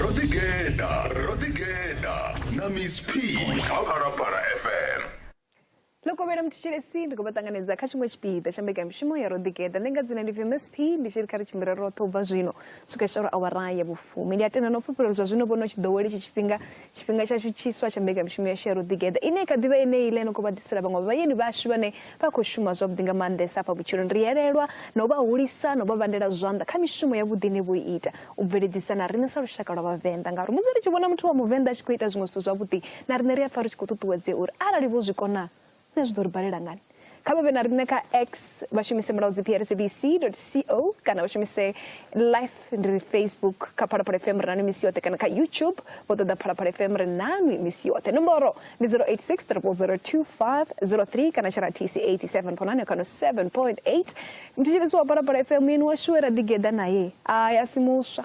ro ḓi geḓa ro ḓi geḓa na miss p kha phalaphala fm lokovhela muthetshelesi ndi khou vha ṱanganedza kha tshiṅwe tshipiḓa tsha mbekanyamushumo ya ro ḓigeḓa ndi nga dzina ndi vmsp ndi tshi ri kha ri tshimbila roṱhe u bva zwino swika tshitauri awara ya vhufumi ndi a tenda na u fhufhela zwa zwino vhono tshi ḓowela itshi tshifhinga tshifhinga tshashu tshiswa tsha mbekanyamushumo ya share u ḓigeḓa ine kha ḓivha yeneyi ḽe no khou vha ḓisela vhaṅwe vhayeni vhashu vhane vha khou shuma zwavhuḓi nga maanḓesa afha vhutshiloni ri elelwa na u vha hulisa na u vha vhandela zwanḓa kha mishumo ya vhuḓi ine vho ita u bveledzisa na riṋe sa lushaka lwa vhavenḓa ngauri musi ri tshi vhona muthu wa muvenḓa a tshi khou ita zwiṅwe zwithu zwavhuḓi na riṋe ri a pfa ri tshi khou ṱuṱuwedzea uri arali vho zwi kona na zwi ḓo ri balela ngani kha vha vhe na riṋe kha x vha shumise mulaudzi prsabc co kana vha shumise life ndi ri facebook kha phalaphala fm ri nanu misi yoṱhe kana kha youtube vho ṱoḓa phalaphala fm ri nanu misi yoṱhe nomboro ndi 086 02503 kana tshara tc 87 ponane kana 7.8 mthetshelesi wa phalaphala fm yeni washu we ra ḓigeḓa naye a ya si muswa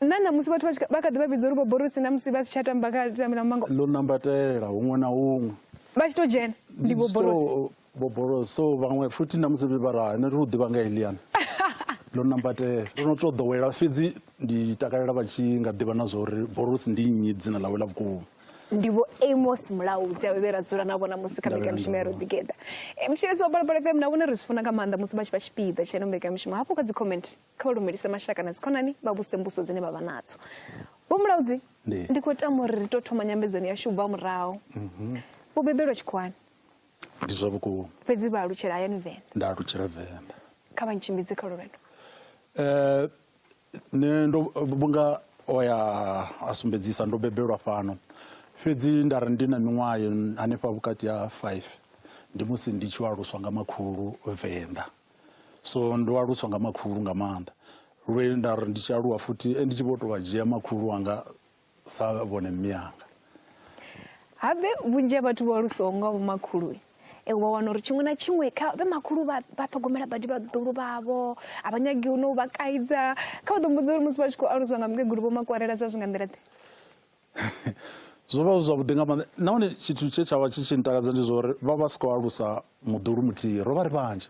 na ṋamusi vhathu vha tshi- vha kha ḓi vha vhidza uri vhoborosi na musi vha si tsha tamba kha tambela mumango ḽo nambatela huṅwe na huṅwe vha tshi to dzhena ndi vhoborosi So, boborosi so vhaṅwe futhi na musi vha ra nṋe ri u ḓivha nga eliana ḽo nambatela ndo no to ḓowela fhedzi ndi takalela vha tshi nga ḓivha na zwori borosi ndi nnyi dzina ḽawe ḽa vhukuma ndi vho amos mulaudzi avhe vhe ra dzula na vhona musi kha Ndavhe na mbekanyamushumo ya ndavha. roḓigeda mutshilesi wa balapala fm na vhone ri zwi funa nga maanḓa musi vha tshi vha tshipiḓa tsheno mbekanyamushumo hafho kha dzi comment kha vha lumelise mashaka na dzikhonani vha vhuse mbuso dzine vha vha nadzo vho mulaudzi ndi khou tama uri ri to thoma nyambedzano yashu u bva murahu mhm. vho bebelwa tshikhuwani ndi zwa vhukuma fhedzi vha alutshela hayani venḓa nda alutshela venḓa kha vha ntshimbidze kha lulwendo um eh, ne ndo vhunga o ya a sumbedzisa ndo bebelwa fhano fhedzi nda ri ndi na miṅwaha hanefha vhukati ha five ndi musi ndi tshi aluswa nga makhulu venḓa so ndo aluswa nga makhulu nga maanḓa lwe nda ri ndi tshi aluwa futhi eh, ndi tshi vho to vha dzhia makhulu wanga sa vhone mme anga habe vhunzhi ha vhathu vho alusaho nga vho makhulu e wa wana uri tshiṅwe na tshiṅwe kha vhe makhulu vha ṱhogomela badi vhaḓulu vhavho a vha nyagi u no vha kaidza kha vha ḓo mbudza uri musi vha tshi khou aluswa nga mukegulu vho makwarela zwa zwi nga nḓila ḓe zwo vha zwi zwavhuḓi nga maanḓa nahone tshithu tshe tsha vha tshi tshi ntakadza ndi zwa uri vha vha si khou alusa muḓulu muthihi ro vha ri vhanzhi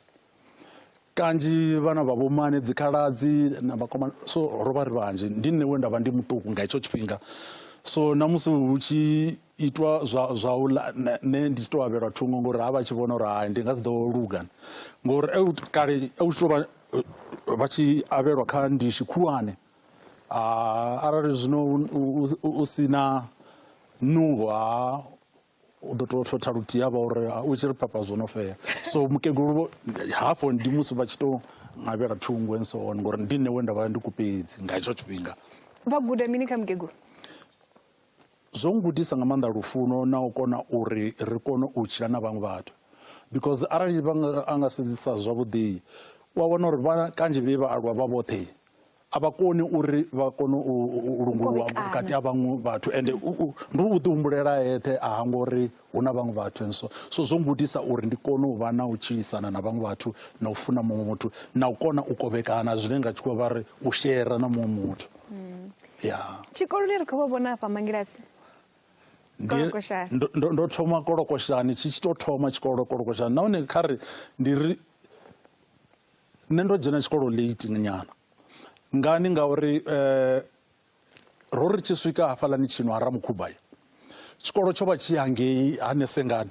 kanzhi vhana vha vhomane dzikhaladzi na vhakomana so ro vha ri vhanzhi ndi nṋe we nda vha ndi muṱuku nga hetsho tshifhinga so na musi hu tshi itwa zwa zwa u ḽa nṋe ndi tshi to avhelwa thungo ngori ha vha tshi vhona uri hai ndi nga si ḓo luga ngori kale u tshi to vha vha tshi avhelwa kha ndishi khulwane arali zwino u si na nungo ha u ḓo tou thotha luthihi ha vha uri u tshi ri phapha zwo no fhela so mukegulu vho hafho ndi musi vha tshi tou ngavhela thungo and so on ngori ndi nṋe we nda vha ndi kupedzi nga hetsho tshifhinga vha guda mini kha mukegulu zwo ngudisa nga maanḓa lufuno na u kona uri ri kone u tshila na vhaṅwe vhathu because arali vha a nga sedzisa zwavhuḓi u a wana uri vha kanzhi vhe vha aluwa vha vhoṱhe a vha koni uri vha kone u lungulwa vhukati ha vhaṅwe vhathu ende ndi u ḓi humbulela eṱhe a hangori hu na vhaṅwe vhathu and so so zwo ngudisa uri ndi kone u vha na u tshilisana na vhaṅwe vhathu na u funa muṅwe muthu na u kona u kovhekana zwine nga tshikhuwa vha ri u shera na muṅwe muthu mm. ya tshikoloni ri khou vha vhona afha mangilasi ndo thoma kolokoshani tshi tshi to thoma tshikolo kolokoshani nahone kha ri ndi ri nṋe ndo dzhena tshikolo late nyana ngani ngauri um Ro ri tshi swika hafhaḽani tshino ha Ramukhubva tshikolo tsho vha tshi hangei Hanesengani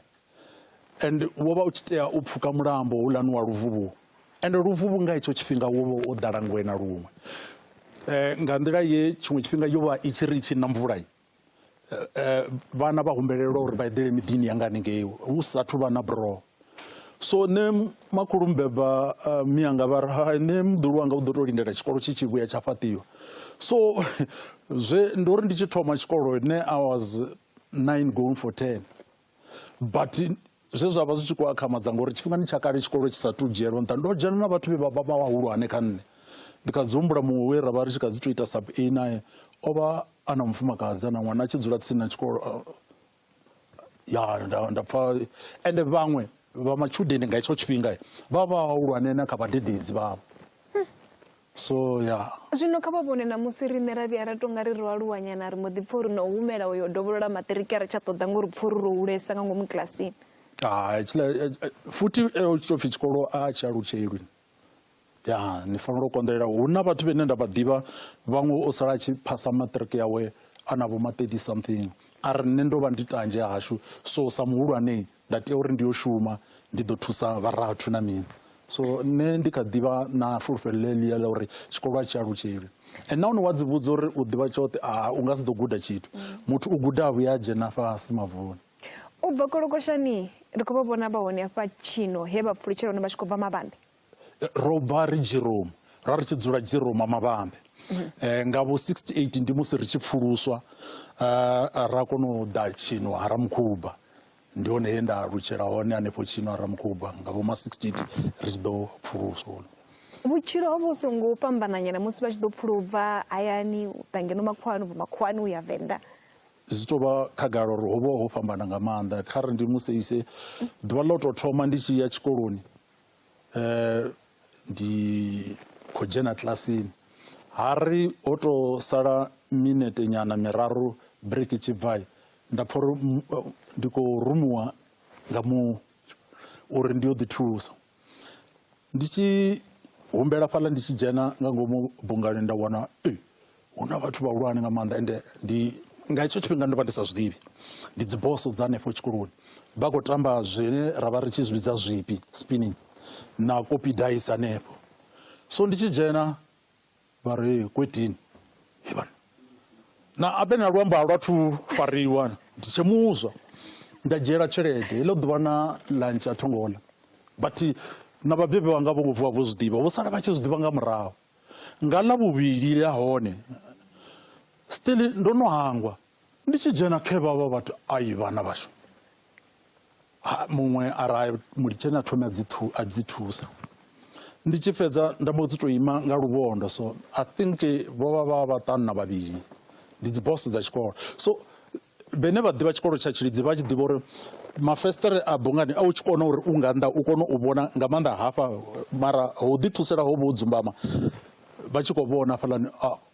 and wo vha u tshi tea u pfuka mulambo houḽani wa Luvhuvhu and Luvhuvhu nga hetsho tshifhinga wo vha wo ḓala ngwe na luṅwe um nga nḓila ye tshiṅwe tshifhinga yo vha i tshi ri i tshi na mvula vhana vha humbelelwa uri vha eḓele miḓini yanga haningei hu sathu vha na buroho so nṋe makhulu mbeba uh, mianga vha ri hai nṋe muḓulu wanga u ḓo tou lindela tshikolo tshi tshi vhuya tsha fhaṱiwa so zwe ndi uri ndi tshi thoma tshikolo nṋe i was 9 going for 10 but zwe zwa vha zwi tshi khou akhamadza ngori tshifhingani tsha kale tshikolo tshi sa tu dzhielwa nṱha ndo dzhena na vhathu vhe vha vha vha vhahulwane kha nṋe ndi kha dzi humbula muṅwe we ra vha ri tshi kha dzi tou ita sub a nae o vha a na mufumakadzi a na ṅwana a tshi dzula tsini na tshikolo uh, ya nda pfa ende vhaṅwe vha matshudeni nga hetsho tshifhinga vha vha vhahulwane na kha vhadededzi vhavho So, ya. Zwino kha vha vhone ṋamusi riṋe ra vhuya ra tou nga ri ro aluwanyana ri mbo ḓi pfa uri na u humela u yo dovholola maṱiriki a ri tsha ṱoḓa ngori pfa uri ro hulesa nga ngomu kilasini. Ah, tshiḽa eh, eh, futhi eh, tshi tou pfi tshikolo a tshi alutshelwi ya ni fanela u konḓelela hu na vhathu vhene nda vha ḓivha vhaṅwe o sala a tshi phasa maṱiriki yawe a na vho ma 30 something a ri nṋe ndo vha ndi tanzhe hashu so sa muhulwane Nda tea uri ndi yo shuma, ndi ḓo thusa vharathu na mini. So nṋe ndi kha ḓivha na fulufhelo ḽeḽia ḽa uri tshikolo a tshi alutsheli. And nahone wa dzi vhudza uri u ḓivha tshoṱhe, a u nga si ḓo guda tshithu. Muthu u guda a vhuya a dzhena fhasi mavuni. U bva kolokoshani, ri khou vha vhona vha hone hafha tshino he vha pfulutshela hone vha tshi khou bva mavhanḓe. ro bva ri Jerome ra ri tshi dzula Jerome mavhambe eh, nga vho 68 ndi musi ri tshi pfuluswa eh, ra kona u ḓa tshino ha ramukhuba ndi hone he nda lutshela hone hanefho tshino ha ramukhuba nga vho ma 68 ri tshi ḓo pfuluswa vhutshilo ho vhu songo fhambananyana musi vha tshi ḓo pfula ubva hayani u ḓa ngeno makhuwani ubva makhuwani u ya venḓa zwi tou vha khagala uri ho vha ho fhambana nga maanḓa kha ri ndi museise ḓuvha ḽo tou thoma ndi tshi ya tshikoloni eh, ndi khou dzhena kilasini ha ri ho to sala minete nyana miraru break tshi bvai nda pfha uri mm, eh, ndi khou rumuwa nga mu uri ndi yo ḓi thusa ndi tshi humbela fhaḽa ndi tshi dzhena nga ngomu bungani nda wana eh, hu na vhathu vhahulwane nga maanḓa ende ndi nga hetsho tshifhinga ndo vha ndi sa zwi ḓivhi ndi dziboso dza hanefho tshikoloni vha khou tamba zwine ra vha ri tshi zwi vhidza zwipi spinning na kopi dice hanefho so ndi tshi dzhena vha ri kwetini hevhana na abe na luambo a lwa thu fariwa ndi tshe muswa nda dzhiela tshelede heḽo ḓuvha na lunch a thongola but na vhabebi vhanga vho ngo vuwa vho zwi ḓivha vho sala vha tshi zwi ḓivha nga murahu Nga ḽa vhuvhili ḽa hone still ndo no hangwa ndi tshi dzhena khe vhavha vhathu ai vhana vhashu muṅwe ara mulitsheni a thome a dzi thu a dzi thusa ndi tshi fhedza nda mbo dzi to ima nga luvhondo so i think vho vha vha vhaṱanu na vhavhili ndi dzi boss dza tshikolo so Vhene vha ḓivha tshikolo tsha Tshilidzi vha tshi ḓivha uri mafesiṱere a bungani a u tshi kona uri u nga nnḓa u kone u vhona nga maanḓa hafha mara ho ḓi thusela ho vho dzumbama vha tshi khou vhona hafhaḽani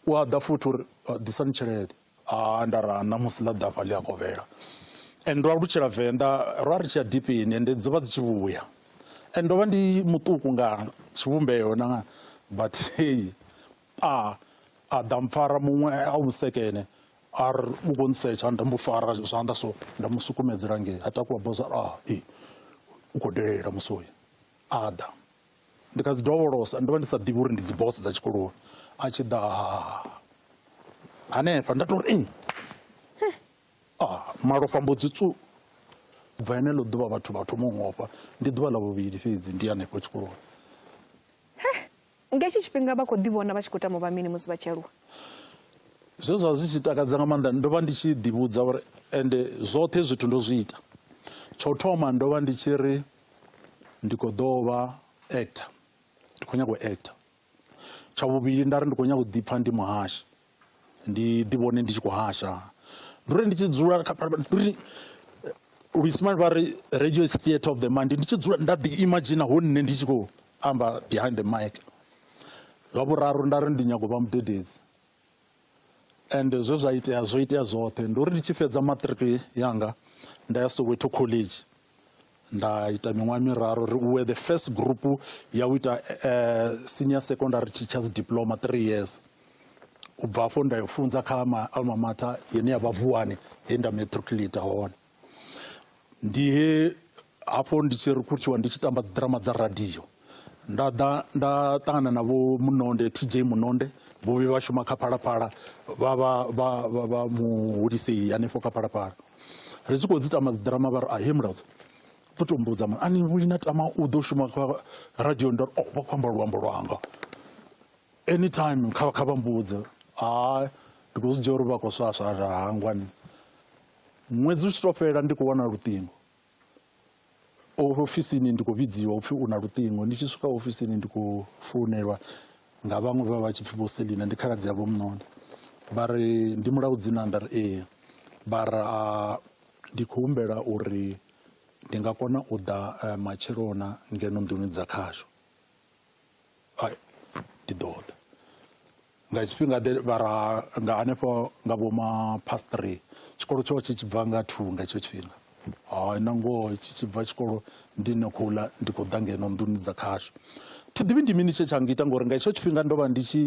u a ḓa futhi uri ḓisani tshelede a nda ra ṋamusi ḽa ḓafha ḽi a kovhela and ndo alutshela venḓa ro a ri tshi ya dipini ende dzo vha dzi tshi vhuya and ndo vha ndi muṱuku nga tshivhumbeo na but heyi a a ḓa mpfara muṅwe a vhusekene a ri u khou ntsetsha nda mu fara zwanḓa so nda mu sukumedzela ngei a takuwa boza a ah, i u khou delela musoyi a ḓa ndi kha dzi dovholosa ndo vha ndi sa ḓivhi uri ndi dzi boss dza tshikoloni a tshi ḓa hanefha nda to ri a ah, malofha mbo dzi tsu bva ene ḽo ḓuvha vhathu vha thoma u ngofha ndi ḓuvha ḽa vhuvhili fhedzi ndi hanefho tshikoloni Nga hetshi tshifhinga vha khou ḓivhona vha tshi khou tama u vha mini musi vha tshi aluwa? Zwe zwa vha zwi tshi takadza nga maanḓa, ndo vha ndi tshi ḓivhudza uri ende zwoṱhe hezwi zwithu ndo zwi ita. Tsho thoma ndo vha ndi tshi ri ndi khou ḓo vha actor, ndi khou nyaga u actor. Tsha vhuvhili nda ri ndi khou nyaga u ḓipfa ndi muhashi. ndi ḓi vhone ndi tshi khou hasha ndi uri ndi tshi dzula ndi uri luisimane vha ri radio is theatre of the mind ndi tshi dzula nda ḓi imagine ho nṋe ndi tshi khou amba behind the mic zwa vhuraru nda ri ndi nyago vha mudededzi and zwe zwa itea zwo itea zwoṱhe ndi uri ndi tshi fhedza maṱiriki yanga nda ya soweto college nda ita miṅwaha miraru ri uwe the first group ya u ita uh, senior secondary teachers diploma three years u bva afho nda yo funza kha ma alma mater yene ya vha vuwani he nda matriculate hone ndi he hafho ndi tshi rekhuthiwa ndi tshi tamba dziḓirama dza radio nda ḓa nda ṱangana na vho munonde tj munonde vho vhe vha shuma kha phalaphala vha vha vha vha vha muhulisei hanefho kha phalaphala ri tshi khou dzi tama dzi ḓirama vha ri a he mulaudza ḓo to mbudza mara ani vhuli na tama u ḓo shuma kha radio ndo ri o oh, vha khou amba luambo lwanga anytime kha kha vha mbudze hai ndi khou zwi dzhia uri vha khou swaswa hangwani ṅwedzi u tshi to fhela ndi khou wana luṱingo ofisini ndi khou vhidziwa upfhi u na luṱingo ndi tshi swika ofisini ndi khou founelwa nga vhaṅwe vha vha tshi pfhi vho selina ndi khaladzi yavho muṋoni vha ri ndi mulawu dzina nda ri ee vha ra ndi khou humbela uri ndi nga kona u ḓa eh, matshelona ngeno nḓuni dza khasho Hai, ndi ḓo ḓa nga tshifhinga ḓe vha ra nga hanefho nga vho ma past three tshikolo tsho tshi tshi bva nga two nga hetsho tshifhinga hai na ngoho tshi tshi bva tshikolo ndi no khou ḽa ndi khou ḓa ngeno nḓuni dza khashu thi ḓivhi ndi mini tshe tsha ngita ngori nga hetsho tshifhinga ndo vha ndi tshi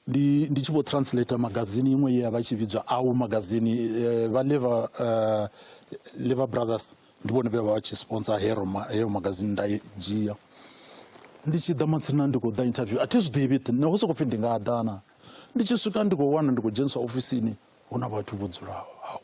ndi ndi tshi vho translator magazini iṅwe ye ya vha tshi vhidzwa au magazini eh, vha lever eh, lever brothers ndi vhone vhe vha vha tshi sponsor hero ma- heyo magazini nda i dzhia ndi tshi ḓa matsina ndi khou ḓa interview a thi zwi ḓivhi ṱi- naho sokou pfhi ndi nga ḓana ndi tshi swika ndi khou wana ndi khou dzheniswa ofisini hu na vhathu vho dzulaho hau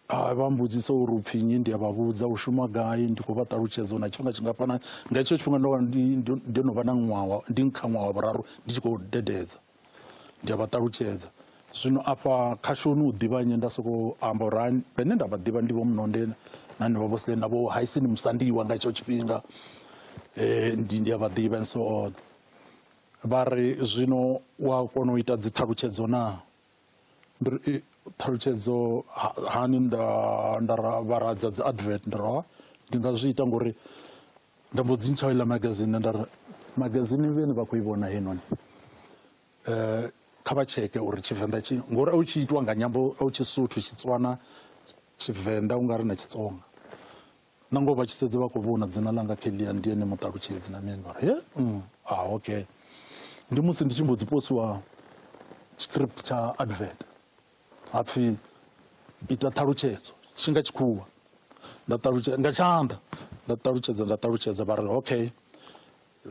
Hai, vha mbudzisa uri upfi nnyi, ndi a vha vhudza u shuma gai, ndi khou vha ṱalutshedza na tshifhinga tshingafhana. Nga hetsho tshifhinga ndo vha ndi no vha na ṅwaha, ndi kha ṅwaha wa vhuraru ndi tshi khou dededza. Ndi a vha ṱalutshedza. Zwino afha khashoni u ḓivha nnyi, nda sokou amba uri hani, vhene nda vha ḓivha ndi vho Mnonde na henevha vho Sle na vho Haisini Musandiwa nga hetsho tshifhinga. Eh, ndi ndi a vha ḓivha and so on. Vha ri zwino wa kona u ita dzi ṱhalutshedzo naa? Ndi ri i ṱhalutshedzo hani nda nda vhara dza dzi advert ndi ro ndi nga zwi ita ngori nda mbo dzi ntsha iḽa magazine nda ri magazine vhene vha khou i vhona heinoni kha vha tsheke uri tshivenḓa tshi ngori a u tshi itiwa nga nyambo a u tshi suthu tshitswana tshivenḓa ungari na tshitsonga. na ngoho vha tshi sedza vha khou vhona dzina ḽanga kelia ndi ene muṱalutshedzi na mini mara ye mm, ah okay ndi musi ndi tshi mbo dzi posiwa script tsha advert ha pfhi ita ṱhalutshedzo tshi nga tshikhuwa nda ṱalutshedza nga tshanḓa nda ṱalutshedza nda ṱalutshedza vha ri okay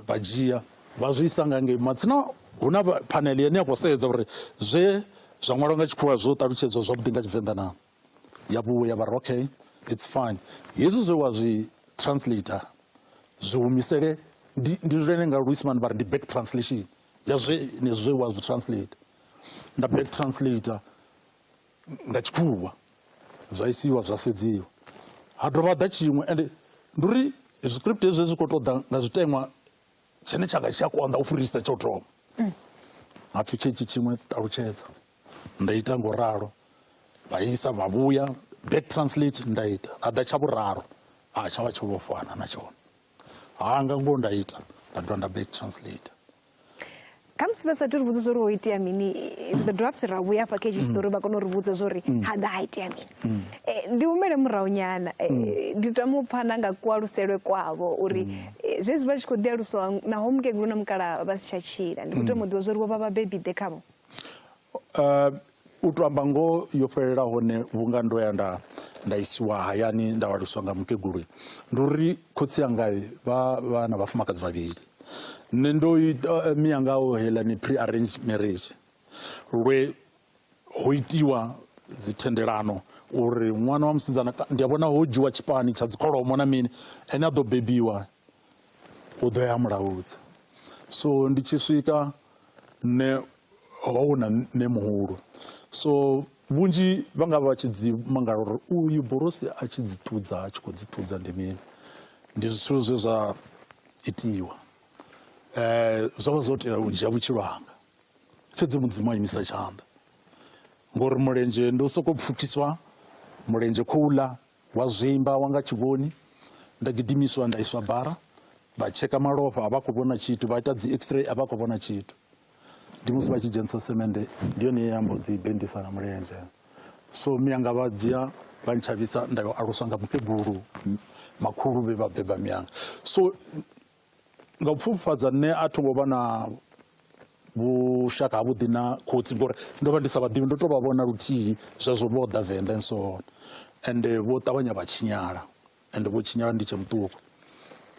vha dzhia vha zwi isa nga ngei matsina hu na phanele yane ya khou sedza uri zwe zwa ṅwalwa nga tshikhuwa zwo ṱalutshedzwa zwavhuḓi nga tshivenḓa na ya vhuwe ya vha okay it's fine hezwi zwe wa zwi translator zwi humisele ndi ndi zwine nga Luisman vha ri ndi back translation ya zwe ne zwe wa zwi translate nda back translator nga tshikhuwa zwa isiwa zwa sedziwa ha dovha ḓa tshiṅwe ende ndi uri script hezwi zwi khou ṱoḓa nga zwiteṅwa tshine tshanga tshi a konḓa u fhirisa tsha u thoma mm. ha pfhi khetshi tshiṅwe ṱalutshedza nda ita ngo ralo vha isa vha vhuya back translate nda ita a ḓa tsha vhuraru a tsha vha tsho vhofhana na tshone hanga ngo nda ita nda dovha nda back translate khamusi vha sathu ri vhudza zwa uri ho itea mini ri ḓo dovha futhi ra vhuya hafha kha hetshi tshiṱori vha kona u ri vhudza zwa uri ha ḓa ha itea mini Eh, ndi humele murahu nyana Eh, ndi tama u pfha na nga kualuselwe kwavho uri eh, zwezwi vha tshi khou ḓi aluswa naho mukegulu na mukala vha si tsha tshila ndi khou tama u ḓivha zwa uri vho vha vhabebi ḓe khavho U tou amba ngoho yo fhelela hone vhunga ndo ya nda nda isiwa hayani nda aluswa nga mukegulu ndi uri khotsi anga vha vha na vhafumakadzi vhavhili nṋe ndo ita mianga o heiḽa ni pre arranged marriage lwe ho itiwa dzi thendelano uri ṅwana wa musidzana ndi a vhona ho dzhiwa tshipani tsha dzi kholomo na mini ane a ḓo bebiwa u ḓo ya mulaudza so ndi tshi swika nṋe ho na nṋe muhulu so vhunzhi vha nga vha tshi dzi mangala uri uyu borosi a tshi dzi ṱudza a tshi khou dzi ṱudza ndi mini ndi zwithu zwe zwa itiwa um zwo vha zwo tea u dzhia vhutshilo hanga fhedzi mudzimu a imisa tshanḓa ngori mulenzhe ndi u sokou pfukiswa mulenzhe khouḽa Wa zwimba wa nga tshivhoni, nda gidimiswa nda iswa bara, vha tsheka malofha a vha khou vhona tshithu, vha ita dzi x-ray a vha khou vhona tshithu. Ndi musi vha tshi dzhenisa semende, ndi yone ye ya mbo ḓi bendisa na mulenzhe. So miyanga vha dzhia vha ntshavhisa nda yo aluswa nga mukegulu makhulu vhe vha beba miyanga. So Nga u pfufhifhadza, nṋe a tho ngo vha na vhushaka havhuḓi na khotsi ngori ndo vha ndi sa vha ḓivhi, ndo tou vha vhona luthihi zwezwo vho ḓa Venḓa and so on, ende vho ṱavhanya vha tshinyala ende vho tshinyala ndi tshe muṱuku.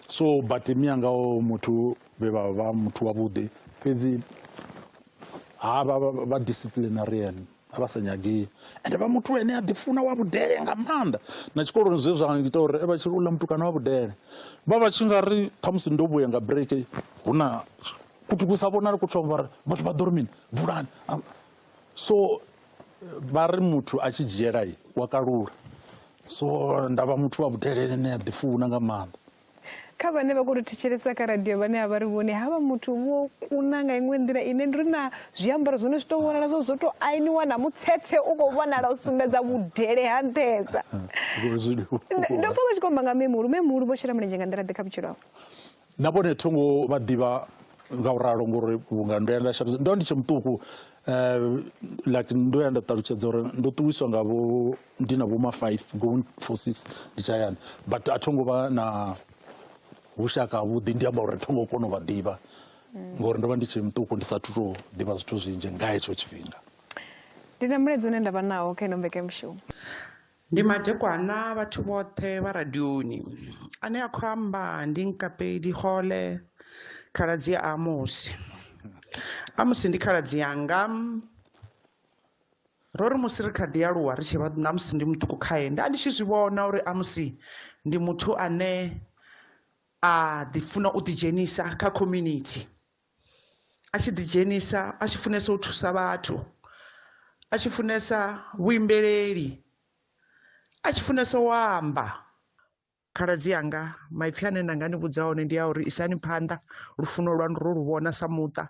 So but mianga o muthu vhe vha vha muthu wavhuḓi fhedzi ha vha vha disciplinarian. a vha sa nyagei ende vha muthu ene a ḓifuna wa vhudele nga maanḓa na tshikoloni zwe zwa ngita uri vha tshi uḽa mutukana wa vhudele vha vha tshi nga ri ṱhamusi ndo vhuya nga break hu na kuthu ku sa vhonali ku thoma vhari vhathu vha ḓo ri mini vulani so vha ri muthu a tshi dzhiela wa kalula so ndavha muthu wa vhudele ene a ḓifuna nga maanḓa kha vhane vha khou tou thetshelesa kha radio vhane a vha ri vhone havha muthu vho kuna nga iṅwe nḓila ine ndi ri na zwiambaro zwone zwi tou vhonala zwo zwo tou ainiwa na mutsetse u khou vhonala u sumbedza vhudele ha nṱhesa ndo pfa vha tshi khou amba nga memuhulu memuhulu vho shela mulenzhe nga nḓila ḓe kha vhutshilo hao na vhone thongo vha ḓivha nga u ralo ngori vhunga ndo ya nda shandukisa ndo ndi tshe muṱuku um like ndo ya nda ṱalutshedza uri ndo ṱuwiswa nga vho ndi na vhoma five going for six ndi tshayani but a tho ngo vha na vhushaka havhuḓi ndi amba uri a tho ngo kona u vha ḓivha ngori ndo vha ndi tshe muṱuku ndi sathu tou ḓivha zwithu zwinzhi nga hetsho tshifhinga ndi na muledzi une nda vha nawo kha ino mbekemushumo ndi madekwana vhathu vhoṱhe vha radioni ane a khou amba ndi nkapedi gole khaladzi a amusi amusi ndi khaladzi yanga ro ri musi ri kha ḓi aluwa ri tshi vha na musi ndi muṱuku khae nda ndi tshi zwi vhona uri a musi ndi muthu ane a ḓi funa u ḓidzhenisa kha community a tshi ḓidzhenisa a tshi funesa u thusa vhathu a tshi funesa vhuimbeleli a tshi funesa u amba khaladzi yanga maipfi ane nda nga ni vhudza one ndi a uri isani phanḓa lufuno lwanu ro lu vhona sa muṱa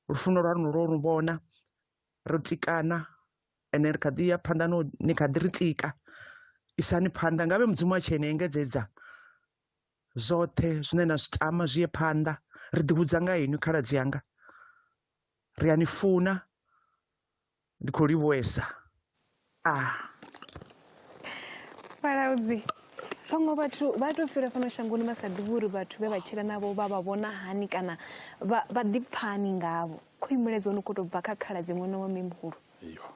lufuno lwa lwo lu vhona ro tikana ende ri kha ḓi ya phanḓa no ni kha ḓi ri tika isani phanḓa ngavhe mudzimu a tshi ene engedzedza zwoṱhe zwine na zwi tama zwi ye phanḓa ri ḓihudza nga inwi khaladzi yanga ri a ni funa ndi khou livhuwesa a fhalaudzi vhaṅwe vhathu vha tou fhira fhano shangoni vha sa ḓivhi uri vhathu vhe vha tshila navho vha vha vhona hani kana vha ḓipfani ngavho khou imuledza ono khou tou bva kha khala dzi ṅwana wa mihulu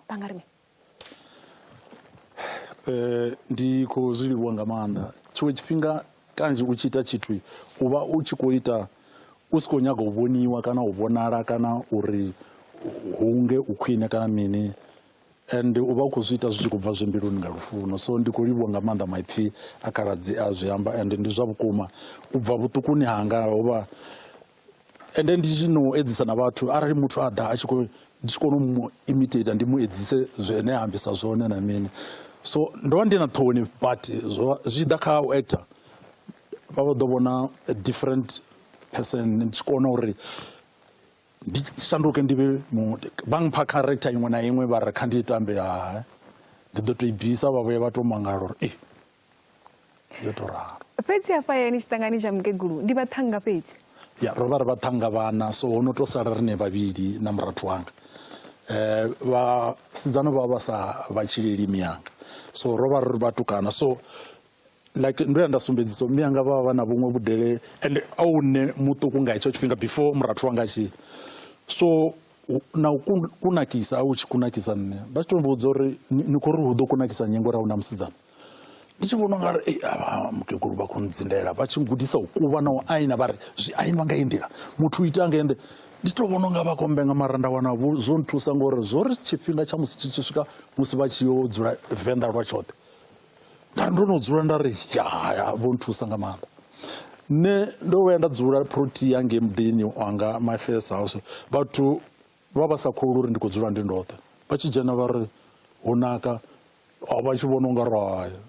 vha nga ri mini um ndi khou zwi livhuwa nga maanḓa tshiṅwe tshifhinga Kanzhi u tshi ita tshithu u vha u tshi khou ita u si khou nyaga u vhoniwa kana u vhonala kana uri hunge u khwine kana mini and u vha u khou zwi ita zwi tshi khou bva zwi mbiluni nga lufuno so ndi khou livhuwa nga maanḓa maipfhi a khaladzi a zwi amba and ndi zwa vhukuma u bva vhuṱukuni hanga ho vha ende ndi tshi no edzisa na vhathu arali muthu a ḓa a tshi khou ndi tshi kona u mu imitate ndi mu edzise zwine a ambisa zwone na mini so ndo vha ndi na ṱhoni but zwo zwi ḓa kha u actor vha vho ḓo vhona a different person ndi tshi kona uri ndi shanduke ndi vhe vha mpha character iṅwe na iṅwe vha ri kha ndi tambe ha ndi ḓo to i bvisa vha vhuya vha to mangala uri ee yo to ralo fhedzi hafha hayani tshiṱangani tsha mukegulu ndi vhaṱhanga fhedzi ya ro vha ri vhaṱhanga vhana so ho no to sala rine vhavhili na murathu wanga um vhasidzana vha vha sa vha tshileli miyanga so ro vha ri vhatukana so like ndo ya nda sumbedzisa mme anga vha vha na vhuṅwe vhudele and a u nṋe muṱuku nga hetsho tshifhinga before murathu wanga tshi so na u kunakisa a u tshi kunakisa nṋe vha tshi to mbudza uri ni khou ri hu ḓo kunakisa nyengo ra hu na musidzana ndi tshi vhona ungari ei avha mukegulu vha khou ndzindela vha tshi gudisa u kuvha na u aina vha ri zwi ainwa nga iyi nḓila muthu u ita nga ende ndi to vhona unga vha khou mbenga mara nda wana zwo nthusa ngori zwo ri tshifhinga tsha musi tshi tshi swika musi vha tshi yo dzula venḓa lwa tshoṱhe nda ndo no dzula nda ri ya vho nthusa nga maanḓa nṋe ndo vhuya nda dzula protea ngei muḓini wanga my first house vhathu vha vha sa kholwi uri ndi khou dzula ndi ndoṱhe vha tshi dzhena vha ri hu naka Oh, vha tshi vhona unga ro haya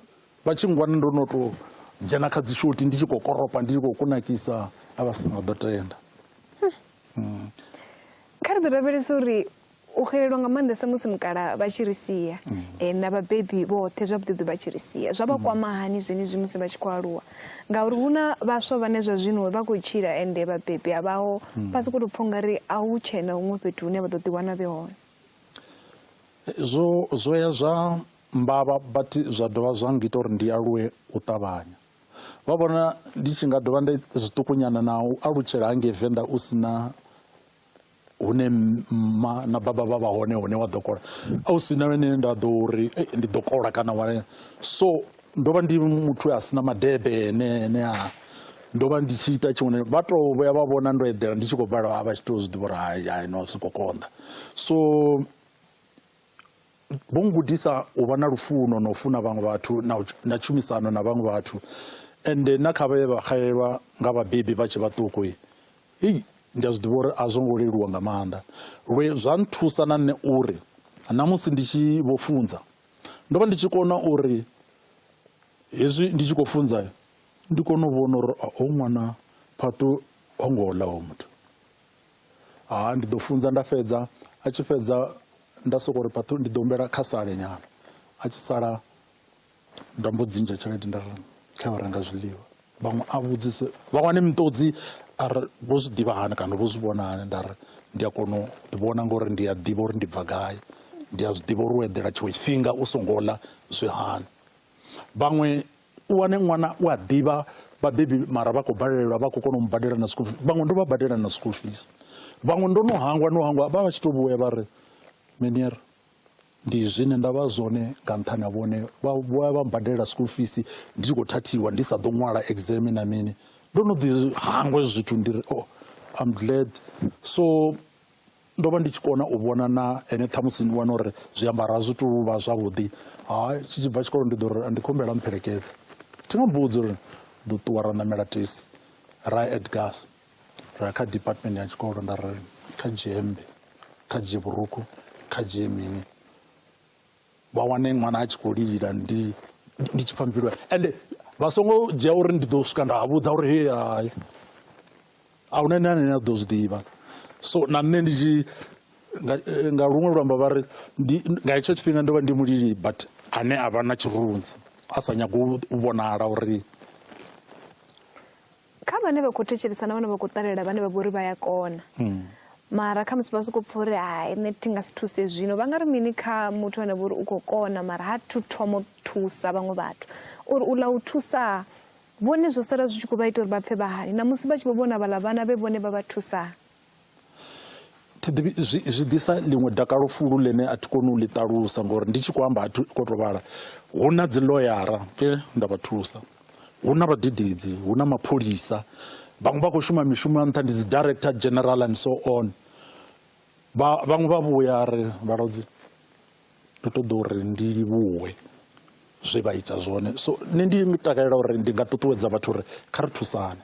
vha tshi ngwana ndo no to dzhena kha dzi shoti ndi tshi khou koropa ndi tshi khou kunakisa a vha songo ḓo tenda hmm. kha ri ḓo lavhelesa uri u xelelwa nga maanḓesa musi mukala vha tshi ri sia hmm. eh, na vhabebi vhoṱhe zwavhuḓiḓi vha tshi ri sia zwa vha hmm. kwama hani zwenezwi musi vha tshi khou aluwa ngauri hu na vhaswa vhane zwa zwino vha khou tshila ende vhabebi a vhaho vha sokou tou pfha ungari a hu tshena huṅwe fhethu hune vha ḓo ḓiwana vhe hone Zwo, zwo ya zwa mbavha but zwa dovha zwa ngita uri ndi aluwe u ṱavhanya. Vha vhona ndi tshi nga dovha nda zwiṱukunyana na u alutshela hangei Venḓa u si na hune mma na baba vha vha hone hune wa ḓo kola a u si na hune nda ḓo uri ndi ḓo kola kana wa so ndo vha ndi muthu a sina madebe ene ene a ndo vha ndi tshi ita tshiṅwe vha to vhuya vha vhona ndo eḓela ndi tshi khou balelwa a vha tshi to zwi ḓivha uri hai hai no zwi khou konḓa so vho ngudisa u vha na lufuno na u funa vhaṅwe vhathu na tshumisano na vhaṅwe vhathu ende na kha vhaye vha xelelwa nga vhabebi vha tshe vhaṱuku hei ndi a zwi ḓivha uri a zwo ngo leluwa nga maanḓa lwe zwa nthusa na nṋe uri na musi ndi tshi vho funza ndo vha ndi tshi kona uri hezwi ndi tshi khou funza ndi kone u vhona uri ho ṅwana phaṱu ho ngo ḽa ho muthu Ha ndi ḓo funza nda fhedza a tshi fhedza nda soko ri phaṱhu ndi ḓo humbela kha sale nyana a tshi sala nda mbo dzi ndzhia tshelede nda ri kha yo renga zwiḽiwa vhaṅwe a vhudzise vha wane miṱodzi a ri vho zwi ḓivha hani kana vho zwi vhona hani nda ri ndi a kona u ḓi vhona ngori ndi a ḓivha uri ndi bva gai ndi a zwi ḓivha uri u eḓela tshiṅwe tshifhinga u songo ḽa zwi hani vhaṅwe u wane ṅwana u a ḓivha vhabebi mara vha khou balelwa vha khou kona u mu badela na school fees vhaṅwe ndo vha badela na school fees vhaṅwe ndo no hangwa no hangwa vha vha tshi to vhuya vha ri menier ndi zwine nda vha zwone nga nṱhani ha vhone vha vhuya vha mbadela school fees ndi tshi khou thathiwa ndi sa ḓo ṅwala exam na mini ndo no ḓi hangwa zwithu ndi ri oh I'm glad so ndo vha ndi tshi kona u vhona na ene ṱhamusi ni wana uri zwiambaro a zwi tu vha zwavhuḓi ha tshi tshi bva tshikolo ndi ḓo ri ndi khumbela mpfhelekedze thi nga mbudzi uri ḓo ṱuwa ra ṋamela tesi ra ya edgars ra ya kha department ya tshikolo nda ri kha dzhie hemmbe kha dzhie vhurukhu kha dzhie mini vha wane ṅwana a tshi khou lila ndi ndi tshi pfha mbilu ende vha songo dzhia uri ndi ḓo swika nda vhudza uri he hai a huna ene ane a ḓo zwi ḓivha so na nṋe ndi tshi nga luṅwe luambo vha ri ndi nga hetsho tshifhinga ndo vha ndi mulili but ane a vha na tshirunzi a sa nyagi u vhonala uri kha vhane vha khou thetshelesa na vhane vha khou ṱalela vhane vha vha uri vha ya kona hmm. mara kha musi vha sokou pfa uri hai nṋe thi nga si thuse zwino vha nga ri mini kha muthu ane vha uri u khou kona mara ha thu thomo thusa vhaṅwe vhathu uri u ḽa u thusa vhone zwo sala zwi tshi khou vha ita uri vha pfe vha hani na musi vha tshi vho vhona vhaḽa vhana vhe vhone vha vha thusa zwi ḓisa ḽiṅwe dakalo fulu ḽine a thi koni u ḽi ṱalusa ngori ndi tshi khou amba a thi khou tou vhala hu na dzi ḽoyara pfe nda vha thusa hu na vhadededzi hu na mapholisa vhaṅwe vha khou shuma mishumo ya nṱha ndi dzi director general and so on vhaṅwe vha vhuya ri vhalodzi ndo ṱoḓa uri ndi livhuwe zwe vha ita zwone so nṋe ndi takalela uri ndi nga ṱuṱuwedza vhathu uri kha ri thusane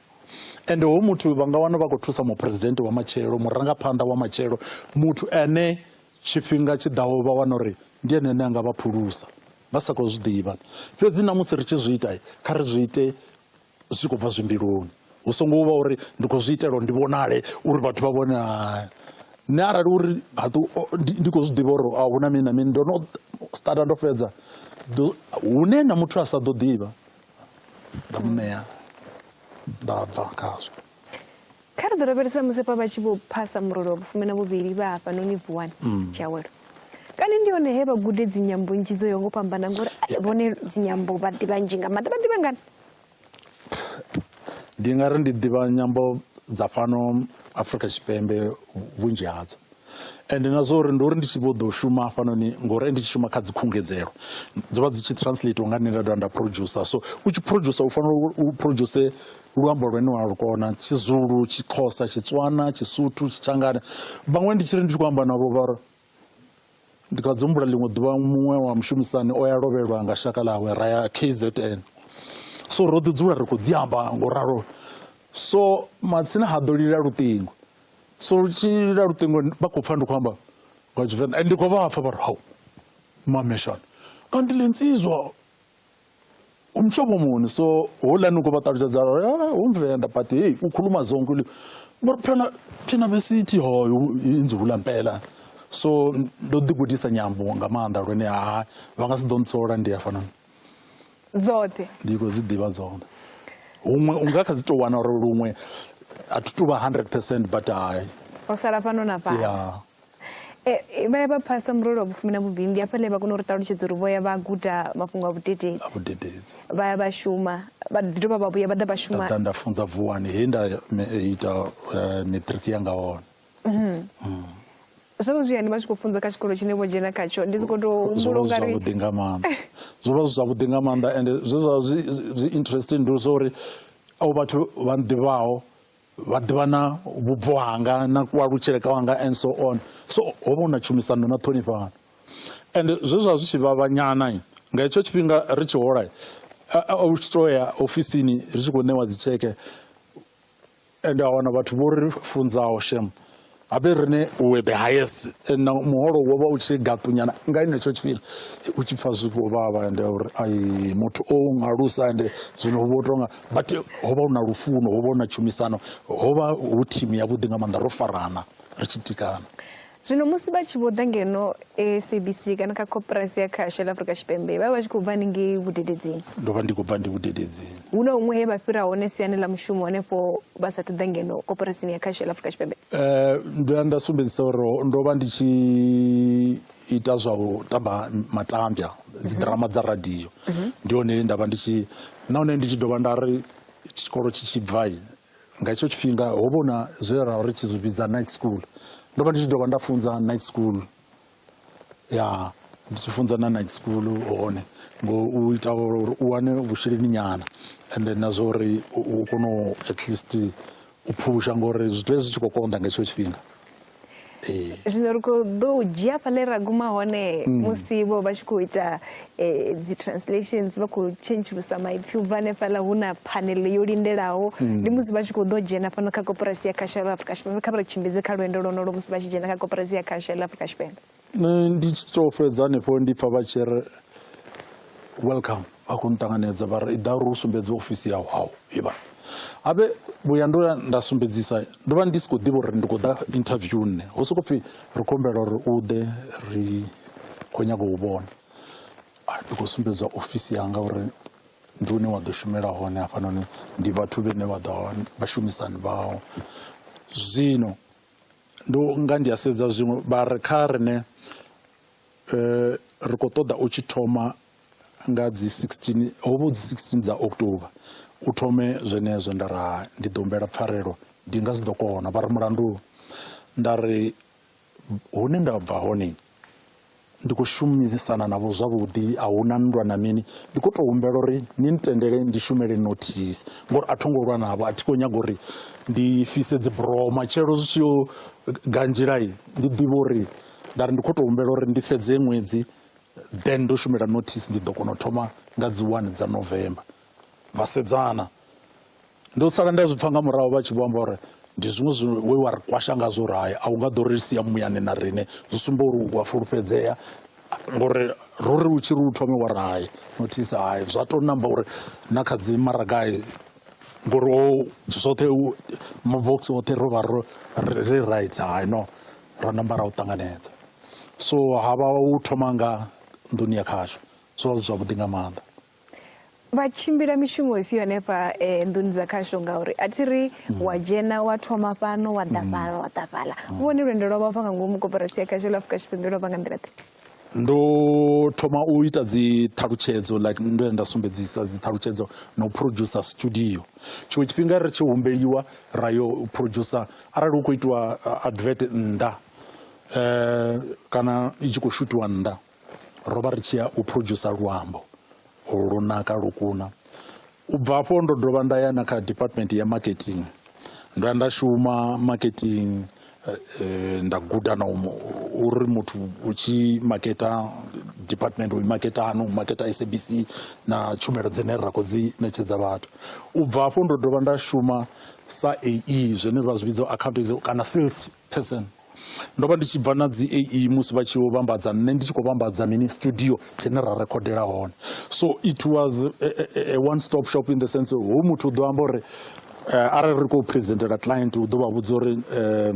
ende ho muthu vha nga wana vha khou thusa muphuresidennde wa matshelo murangaphanḓa wa matshelo muthu ane tshifhinga tshi ḓaho vha wana uri ndi ene ane a nga vha phulusa vha sa khou zwi ḓivha fhedzi na musi ri tshi zwi ita kha ri zwi ite zwi khou bva zwimbiluni hu songo vha uri ndi khou zwi itela uri ndi vhonale uri vhathu vha vhone nṋe arali uri ndi khou zwi ḓivha uri a hu na mini na mini ndo no starta ndo fhedza hune na muthu a sa ḓo ḓivha nda mu ṋea nda bva khazwo kha ri ḓo lavhelesa musi pa vha tshi vho phasa murole wa vhufumi na vhuvhili vha hafhanoni vuwani mm. tshiawelo kani ndi hone he vha gude dzinyambo nnzhi dzo yo ngo fhambana ngori vhone dzinyambo vha ḓivha nzhi nga maḓi vha ḓivha ngani ndi nga ri ndi ḓivha nyambo dza fhano Afrika Tshipembe vhunzhi hadzo ende na zwa uri ndi uri ndi tshi vho ḓo shuma hafhanoni ngori ndi tshi shuma kha dzi khungedzelo dzo vha dzi tshi translate nga nṋe nda dovha nda producer so u tshi producer u fanela u produce luambo lwene wa lu kona tshizulu tshixhosa tshitswana tshisuthu tshitshangana vhaṅwe ndi tshi ri ndi tshi khou amba navho vha Ndi kha dzi humbula ḽiṅwe ḓuvha muṅwe wa mushumisani o ya lovhelwa nga shaka ḽawe ra ya KZN so ro ḓi dzula ri khou dzi amba ngo ralo so matsina ha ḓo lila luṱingo so lu tshi lila luṱingo vha khou pfha ndi khou amba nga tshivenḓa ndi khou vha pfha vha ri hau mameshana kanti le nsizwa umhlobo muni so holani uko batalutshedza umvenda ah, but hey ukhuluma zonke ulimi but phela thina besithi hoyo inzula mpela so ndo ḓigudisa nyambo nga maanḓa lwene ha vha nga si ḓo ntsola ndi ya fanana dzoṱhe ndi khou dzi ḓivha dzoṱhe huṅwe u nga kha dzi tou wana uri luṅwe a thi tu vha 100 percent but hai o sala fhano na fhano vha ya vha phasa murole wa vhufumi na vhuvhili ndi hafhaḽa vha kona u ri ṱalutshedza uri vho ya vha guda mafhungo a vhudededzi vha ya vha shuma vha ḓi dovha vha vhuya vha ḓa vha shuma nda nda funza vuwani he nda ita eh, matric yanga hone mhm. mm. zwo zwi yani vha tshi khou funza kha tshikolo tshine vho dzhena khatsho ndi soko to humbula unga ri zwavhuḓi nga maanḓa zwo vha zwi zwavhuḓi nga maanḓa and zwe zwa zwi interesting ndi zwa uri au vhathu vha nḓivhaho vha ḓivha na vhubvo hanga na kualutshele ka wanga and so on so ho vha hu na tshumisano na ṱhonifhano and zwe zwa zwi tshi vhavhanyana nga hetsho tshifhinga ri tshi hola u tshi to ya ofisini ri tshi khou ṋewa dzitsheke and a wana vhathu vho ri funzaho shem a be rine we the highest and now muholo wo vha u tshi gaṱunyana nga henetsho tshifhinga u tshi pfa zwi vho vhavha ende uri ai muthu o ngalusa ende zwino hu vho tonga but ho vha hu na lufuno ho vha hu na tshumisano ho vha hu thimu yavhuḓi nga maanḓa ro farana ri tshi tikana zwino musi vha tshi vho ḓa ngeno sabc kana kha koporasi ya khashe la afurika tshipembe vha vha vha tshi khou bva haningei vhudededzini ndo vha ndi khou bva ndi vhudededzini hu na huṅwe he vha fhira hone siani ḽa mushumo hanefho vha sa ṱoḓa ngeno koporasini ya khashe la afurika tshipembe Eh, ndo ya nda sumbedzisa uri ndo vha ndi tshi ita zwa u tamba matambya dzidrama dza radio ndi hone nda vha ndi tshi nahone ndi tshi dovha nda ri tshikolo tshi tshi bvai nga hetsho tshifhinga ho vha na zwe ra ri tshi zwi vhidza night school ndo vha ndi tshi dovha nda funza night school ya ndi tshi funza na night school hone ngo u ita uri u wane vhusheleni nyana and then na zwa uri u kone at least u phusha ngori zwithu zwi tshi khou konḓa nga hetsho tshifhinga Eh. zwino ri khou ḓo u dzhia fhaḽe ra guma hone mm. musi vho vha tshi khou ita eh, dzi translations vha khou tshentshulusa maipfi u bva hanefhaḽa hu na phanele yo lindelaho mm. ndi musi vha tshi khou ḓo dzhena fhano kha koporasi ya khashelo afrika tshipembe kha vha ri tshimbidze kha lwendo lwonolo musi vha tshi dzhena kha koporasi ya khashelo afrika tshipembe nṋe ndi tshi to fhedza hanefho ndi pfa vha tshi ri welcome vha khou nṱanganedza vha ri iḓa uri u sumbedze ofisi yau hau ivha habe vhuya ndo ya nda sumbedzisa ndo vha ndi si khou ḓivha uri ndi khou ḓa interview nṋe ho sokou pfhi ri khou humbela uri u ḓe ri khou nyaga u vhona ah, ndi khou sumbedzwa ofisi yanga uri ndi hune wa ḓo shumela hone hafhanoni ndi vhathu vhene vha ḓo vha shumisani vhao zwino Ndo nga ndi a sedza zwiṅwe vha ri kha rine eh, ri khou ṱoḓa u tshi thoma nga dzi 16 ho vha dzi 16 dza October u thome zwenezwo nda ra ndi ḓo humbela pfarelo ndi nga si ḓo kona vha ri mulandu nda ri hune nda bva hone ndi khou shumisana navho zwavhuḓi a hu na nndwa na mini ndi khou tou humbela uri ni ntendele ndi shumele notice ngori a tho ngo lwa navho a thi khou nyaga uri ndi fhise dzi bro matshelo zwi tshi yo ganzhilai ndi ḓivhe uri nda ri ndi khou tou humbela uri ndi fhedze ṅwedzi then ndo shumela notice ndi ḓo kona u thoma nga dzi one dza november ra sedzana Ndo sala nda zwi pfa nga murahu vha tshi vho amba uri ndi zwiṅwe zwi we wa ri kwasha ngazwo uri hai a u nga ḓo ri sia muyani na riṋe zwi sumba uri u a fulufhedzea ngori ro ri u tshi ri u thome wa ri hai nothisa hai zwa to namba uri na kha dzi maragai ngori o zwoṱhe mabox oṱhe ro vha ro ri right hai no ra namba ra u ṱanganedza so ha vha u thoma nga nḓuni ya khasho zwo vha zwi zwavhuḓi nga maanḓa vha tshimbila mishumo ifhio hanefha eh, nḓuni dza khasho ngauri a thi ri mm. wa dzhena wa thoma fhano wa ḓa mm. fhala wa ḓa fhala mm. vhone lwendo lwa vha nga ngomu koporasi ya khasho la afrika tshipembe lwa vha nga nḓila ḓe ndo thoma u ita dzi ṱhalutshedzo like ndo ya nda sumbedzisa dzi ṱhalutshedzo na u producer studio tshiṅwe tshifhinga ri tshi humbeliwa ra yo producer arali hu khou itiwa uh, advert nnḓa um kana i tshi khou shutiwa nnḓa ro vha ri tshi ya u producer luambo lu naka lu kuna u bva afho ndo dovha nda ya na kha department ya marketing ndo ya nda shuma marketing eh, eh, nda guda na uri muthu u tshi maketa department u maketa ano u maketa sabc na tshumelo dzine ra khou dzi ṋetshedza vhathu u bva afho ndo dovha nda shuma sa ae zwine vha zwi vhidza account kana sales Person. Ndo vha ndi tshi bva na dzi AE musi vha tshi yo vhambadza nṋe ndi tshi khou vhambadza mini studio tshine ra rekhodela hone so it was a, a, a one stop shop in the sense ho muthu u ḓo amba uri uh, arali ri khou presentela client u ḓo vha vhudza uri uh,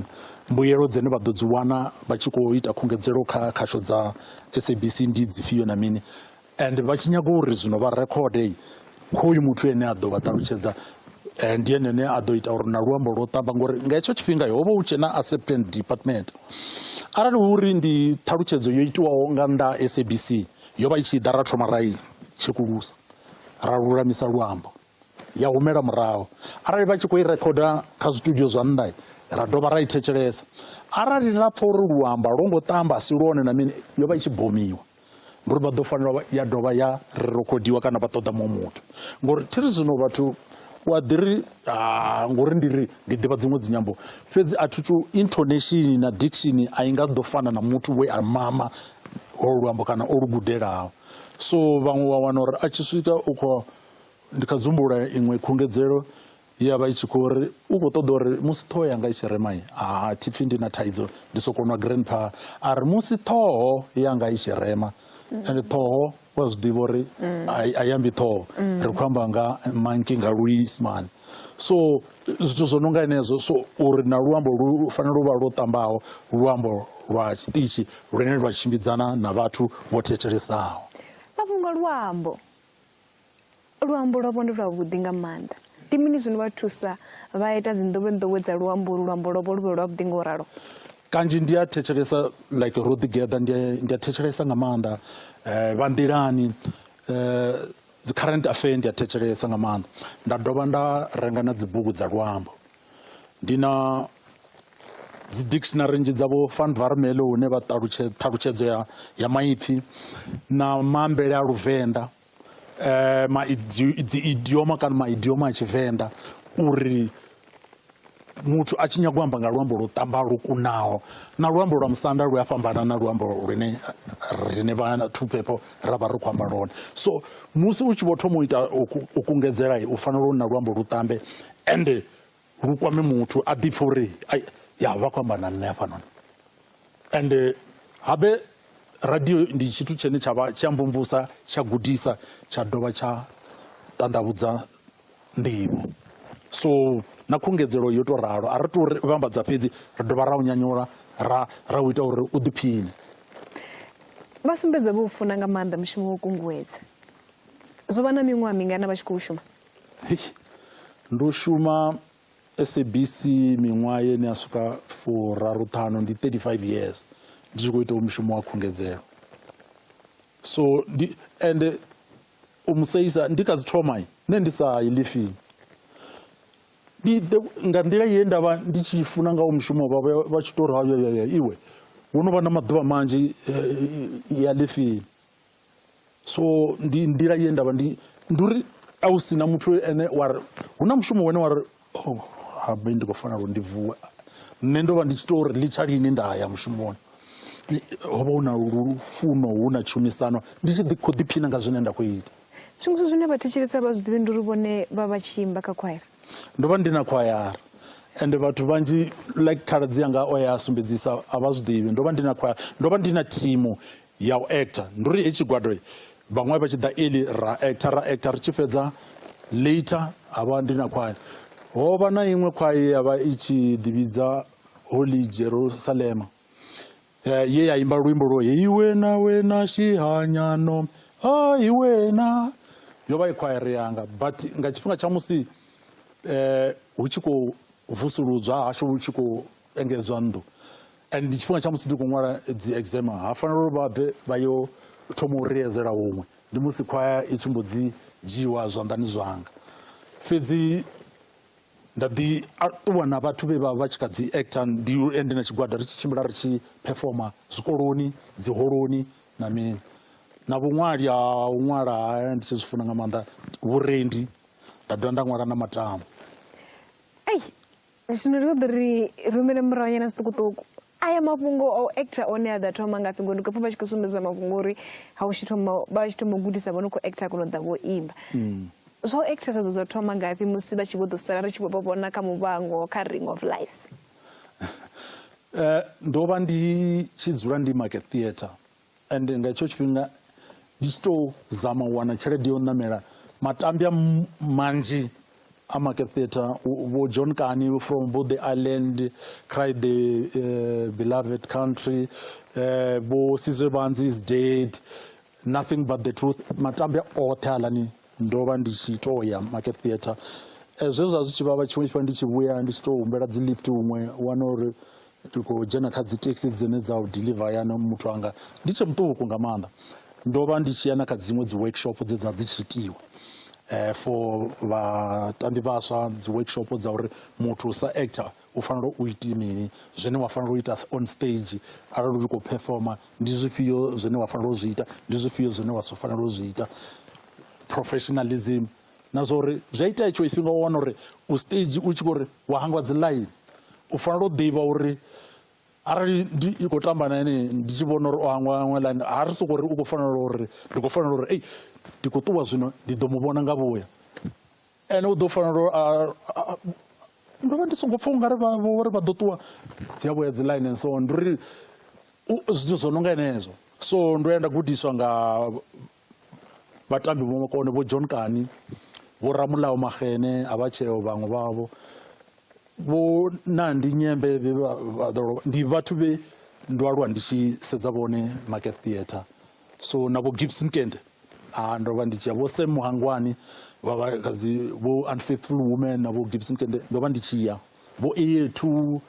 mbuyelo dzine vha ḓo dzi wana vha tshi khou ita khungedzelo kha khasho dza sabc ndi dzifhio na mini and vha tshi nyaga uri zwino vha rekhode khoyu muthu ene a ḓo vha ṱalutshedza eh, ndi ene ne a ḓo ita uri na luambo lwo ṱamba ngori nga hetsho tshifhinga ho vha hu tshe na acceptance department arali hu uri ndi ṱhalutshedzo yo itiwaho nga nnḓa ha sabc yo vha i tshi ḓa ra thoma ra i tshekulusa ra lulamisa luambo ya humela murahu arali vha tshi khou i rekhoda kha zwitudio zwa nnḓa ra dovha ra i thetshelesa arali ra pfa uri luamba lwo ngo tamba si lwone na mini yo vha i tshi bomiwa ngori vha ḓo fanela ya dovha ya rekhodiwa kana vha ṱoḓa muṅwe muthu ngori thi ri zwino vhathu u a ḓi ri ah, ngori ndi ri ndi ḓivha dziṅwe dzinyambo fhedzi a thi tu intonation na diction a i nga ḓo fana na muthu we a mama ho luambo kana o lu gudelaho so vhaṅwe wa wana uri a tshi swika u khou ndi kha dzumbula iṅwe khungedzelo ya vha i tshi khou ri u khou ṱoḓa uri musi ṱhoho yanga i tshi rema ha thi pfhi ndi na thaidzo ndi soko nwa grandpa a ri musi ṱhoho yanga i tshi rema ende ṱhoho wa zwi ḓivha uri a i ambi ṱhoho ri khou amba nga manki nga luisimane so zwithu zwo no nga henezwo so uri na luambo lu fanela u vha lwo ṱambaho luambo lwa tshiṱitshi lune lwa tshimbidzana na vhathu vho thetshelessaho mafhungo luambo Luambo lwavho ndi lwavhuḓi nga maanḓa. Ndi mini zwi no vha thusa vha ita dzinḓowenḓowe dza luambo ulu luambo lwavho lu vhe lwavhuḓi nga u ralo? kanzhi ndi a thetshelesa like ro ḓigeḓa ndi a thetshelesa nga maanḓa um vha nḓilani um dzi current affair ndi a thetshelesa nga maanḓa nda dovha nda renga na dzibugu dza luambo ndi na dzi dictionary nzhi dzavho fan varmelo hune vha ṱalutshedza ṱhalutshedzo ya ya maipfhi na maambele a luvenḓa eh dzi idioma kana maidioma a tshivenḓa uri muthu a tshi nyaga u amba nga luambo lwo ṱamba lwo kunaho na luambo lwa musanda lu a fhambana na luambo lune rine vha two people ra vha ri khou amba lone so musi u tshi vho thoma u ita u kungedzela u fanela u na luambo lu ṱambe ende lu kwame muthu a ḓipfa uri ya vha khou amba na nṋe hafhanoni and eh, habe radio ndi tshithu tshine tsha vha tshi a mvumvusa tsha gudisa tsha dovha tsha ṱanḓavhudza nḓivho so na khungedzelo yo tou ralo a ri tou vhambadza fhedzi ri dovha ra u nyanyula ra ra u ita uri u ḓiphine vha sumbedza vho u funa nga maanḓa mushumo wo kunguwedza zwo vha na miṅwaha mingana vha tshi khou shuma Ndo shuma SABC miṅwaha ye ni a swika furaru ṱhanu ndi 35 years ndi tshi khou itaho mushumo wa khungedzelo so ndi ende u mu seisa ndi kha dzi thoma nṋe ndi sa i lifini ndi nga nḓila ye nda vha ndi tshi funa nga u mushumo vha vha tshi tou ri iwe wo no vha na maḓuvha manzhi eh, ya lifini so ndi nḓila ye ndavha ndi ndi uri a u sina muthu ene wa ri hu na mushumo wene wa ri oh, habe ndi khou fanela uri ndi vuwe nṋe ndo vha ndi tshi to uri litsha lini nda ya mushumoni ho vha hu na lufuno hu na tshumisano ndi tshi khou ḓiphina nga zwine nda khou ita zwiṅwe zwithu zwine vhathetshelesa vha zwi ḓivhi ndi uri vhone vha vha tshi imba kha khwaira ndo vha ndi na khwayara ende vhathu vhanzhi like khaladzi yanga o ya sumbedzisa a vha zwi ḓivhi ndo vha ndi na khwayara ndo vha ndi na thimu ya u actor ndi uri he tshigwado vhaṅwe vha tshi ḓa early ra actor ra actor ri tshi fhedza later ha vha ndi na khwayo ho vha na iṅwe khwayo ye ya vha i tshi ḓivhidza holy jerusalema eh, ye ya imba luimbo lwo heyi wena wena shihanyano hayi wena yo vha i khwaere yanga but nga tshifhinga tsha musi eh, hu tshi khou vusuludzwa hashu hu tshi khou engedzwa nnḓu and ndi tshifhinga tsha musi ndi khou ṅwala dzi exam ha fanela uri vha bve vha yo thoma u riyedzela huṅwe ndi musi khwaya i tshi mbo dzi dzhiiwa zwanḓani zwanga fhedzi nda ḓi ṱuwa na vhathu vhe vha vha tshi kha dzi actor ndi ende na tshigwada ri tshi tshimbila ri tshi performa zwikoloni dzi holoni na mini na vhuṅwali ha u ṅwala ndi tshi zwi funa nga maanḓa vhurendi nda dovha nda ṅwala na matamo zwino ri ṱoḓa ri rumele murahu nyana zwiṱukuṱuku aya mafhungo a u actor one a ḓa thoma ngafhi ngori ndi khou pfa vha tshi khou sumbedza mafhungo uri ha u tshi thoma vha tshi thoma u gudisa vho no khou actor kono ḓa vho imba mm. zwa u actor zwa ḓo zwa thoma ngafhi musi vha tshi vho ḓo sala ri tshi vho vha vhona kha muvhango kha ring of life eh, ndo vha ndi tshi dzula ndi market theatre and nga hetsho tshifhinga ndi tshi tou zama u wana tshelede yo ṋamela matambya manzhi a market theatre vho john kani from bo the island cry the uh, beloved country uh, eh, bo sizwe banzi is dead nothing but the truth matambya oṱhe alani ndo vha ndi tshi tou ya market theatre eh, zwe zwa zwi tshi vhavha tshiṅwe tshifhinga ndi tshi vhuya ndi tshi tou humbela dzi lift huṅwe wana uri ndi khou dzhena kha dzi taxi dzine dza u deliver hayani muthu anga ndi tshe muṱuku nga maanḓa ndo vha ndi tshi ya na kha dziṅwe dzi workshop dze dza dzi tshi itiwa eh, for vhatambi vhaswa dzi workshop dza uri muthu sa actor u fanela u iti mini zwine wa fanela u ita on stage arali u khou performa ndi zwifhio zwine wa fanela u zwi ita ndi zwifhio zwine wa si fanela u zwi ita professionalism na zwa uri zwi a itea itshiwo tshifhinga wa wana uri u stage u tshi khou ri wa hangwa dzi line u fanela u ḓivha uri arali ndi i khou tamba na ene ndi tshi vhona uri o hangwa hangwa line ha ri soko uri u khou fanela uri ndi khou fanela uri ei ndi khou ṱuwa zwino ndi ḓo mu vhona nga vhuya ene u ḓo fanela uri ndo vha ndi songo pfha ungari vhori vha ḓo ṱuwa dzi a vhuya dzi line and so on ndi uri zwithu zwo no nga henezwo so ndo ya nda gudiswa nga Vhatambi vho makone vho John Kani, vho Ramulao Magene a vha tsheo vhaṅwe vhavho vho Nandi Nyembe vhe vha vha ḓo lovha. Ndi vhathu vhe ndo aluwa ndi tshi sedza vhone Market Theatre. So na vho Gibson Kente a ndo vha ndi tshi ya vho Sam Muhangwani vha vha kha dzi vho Unfaithful Women na vho Gibson Kente ndo vha ndi tshi ya. Vho Eyethu,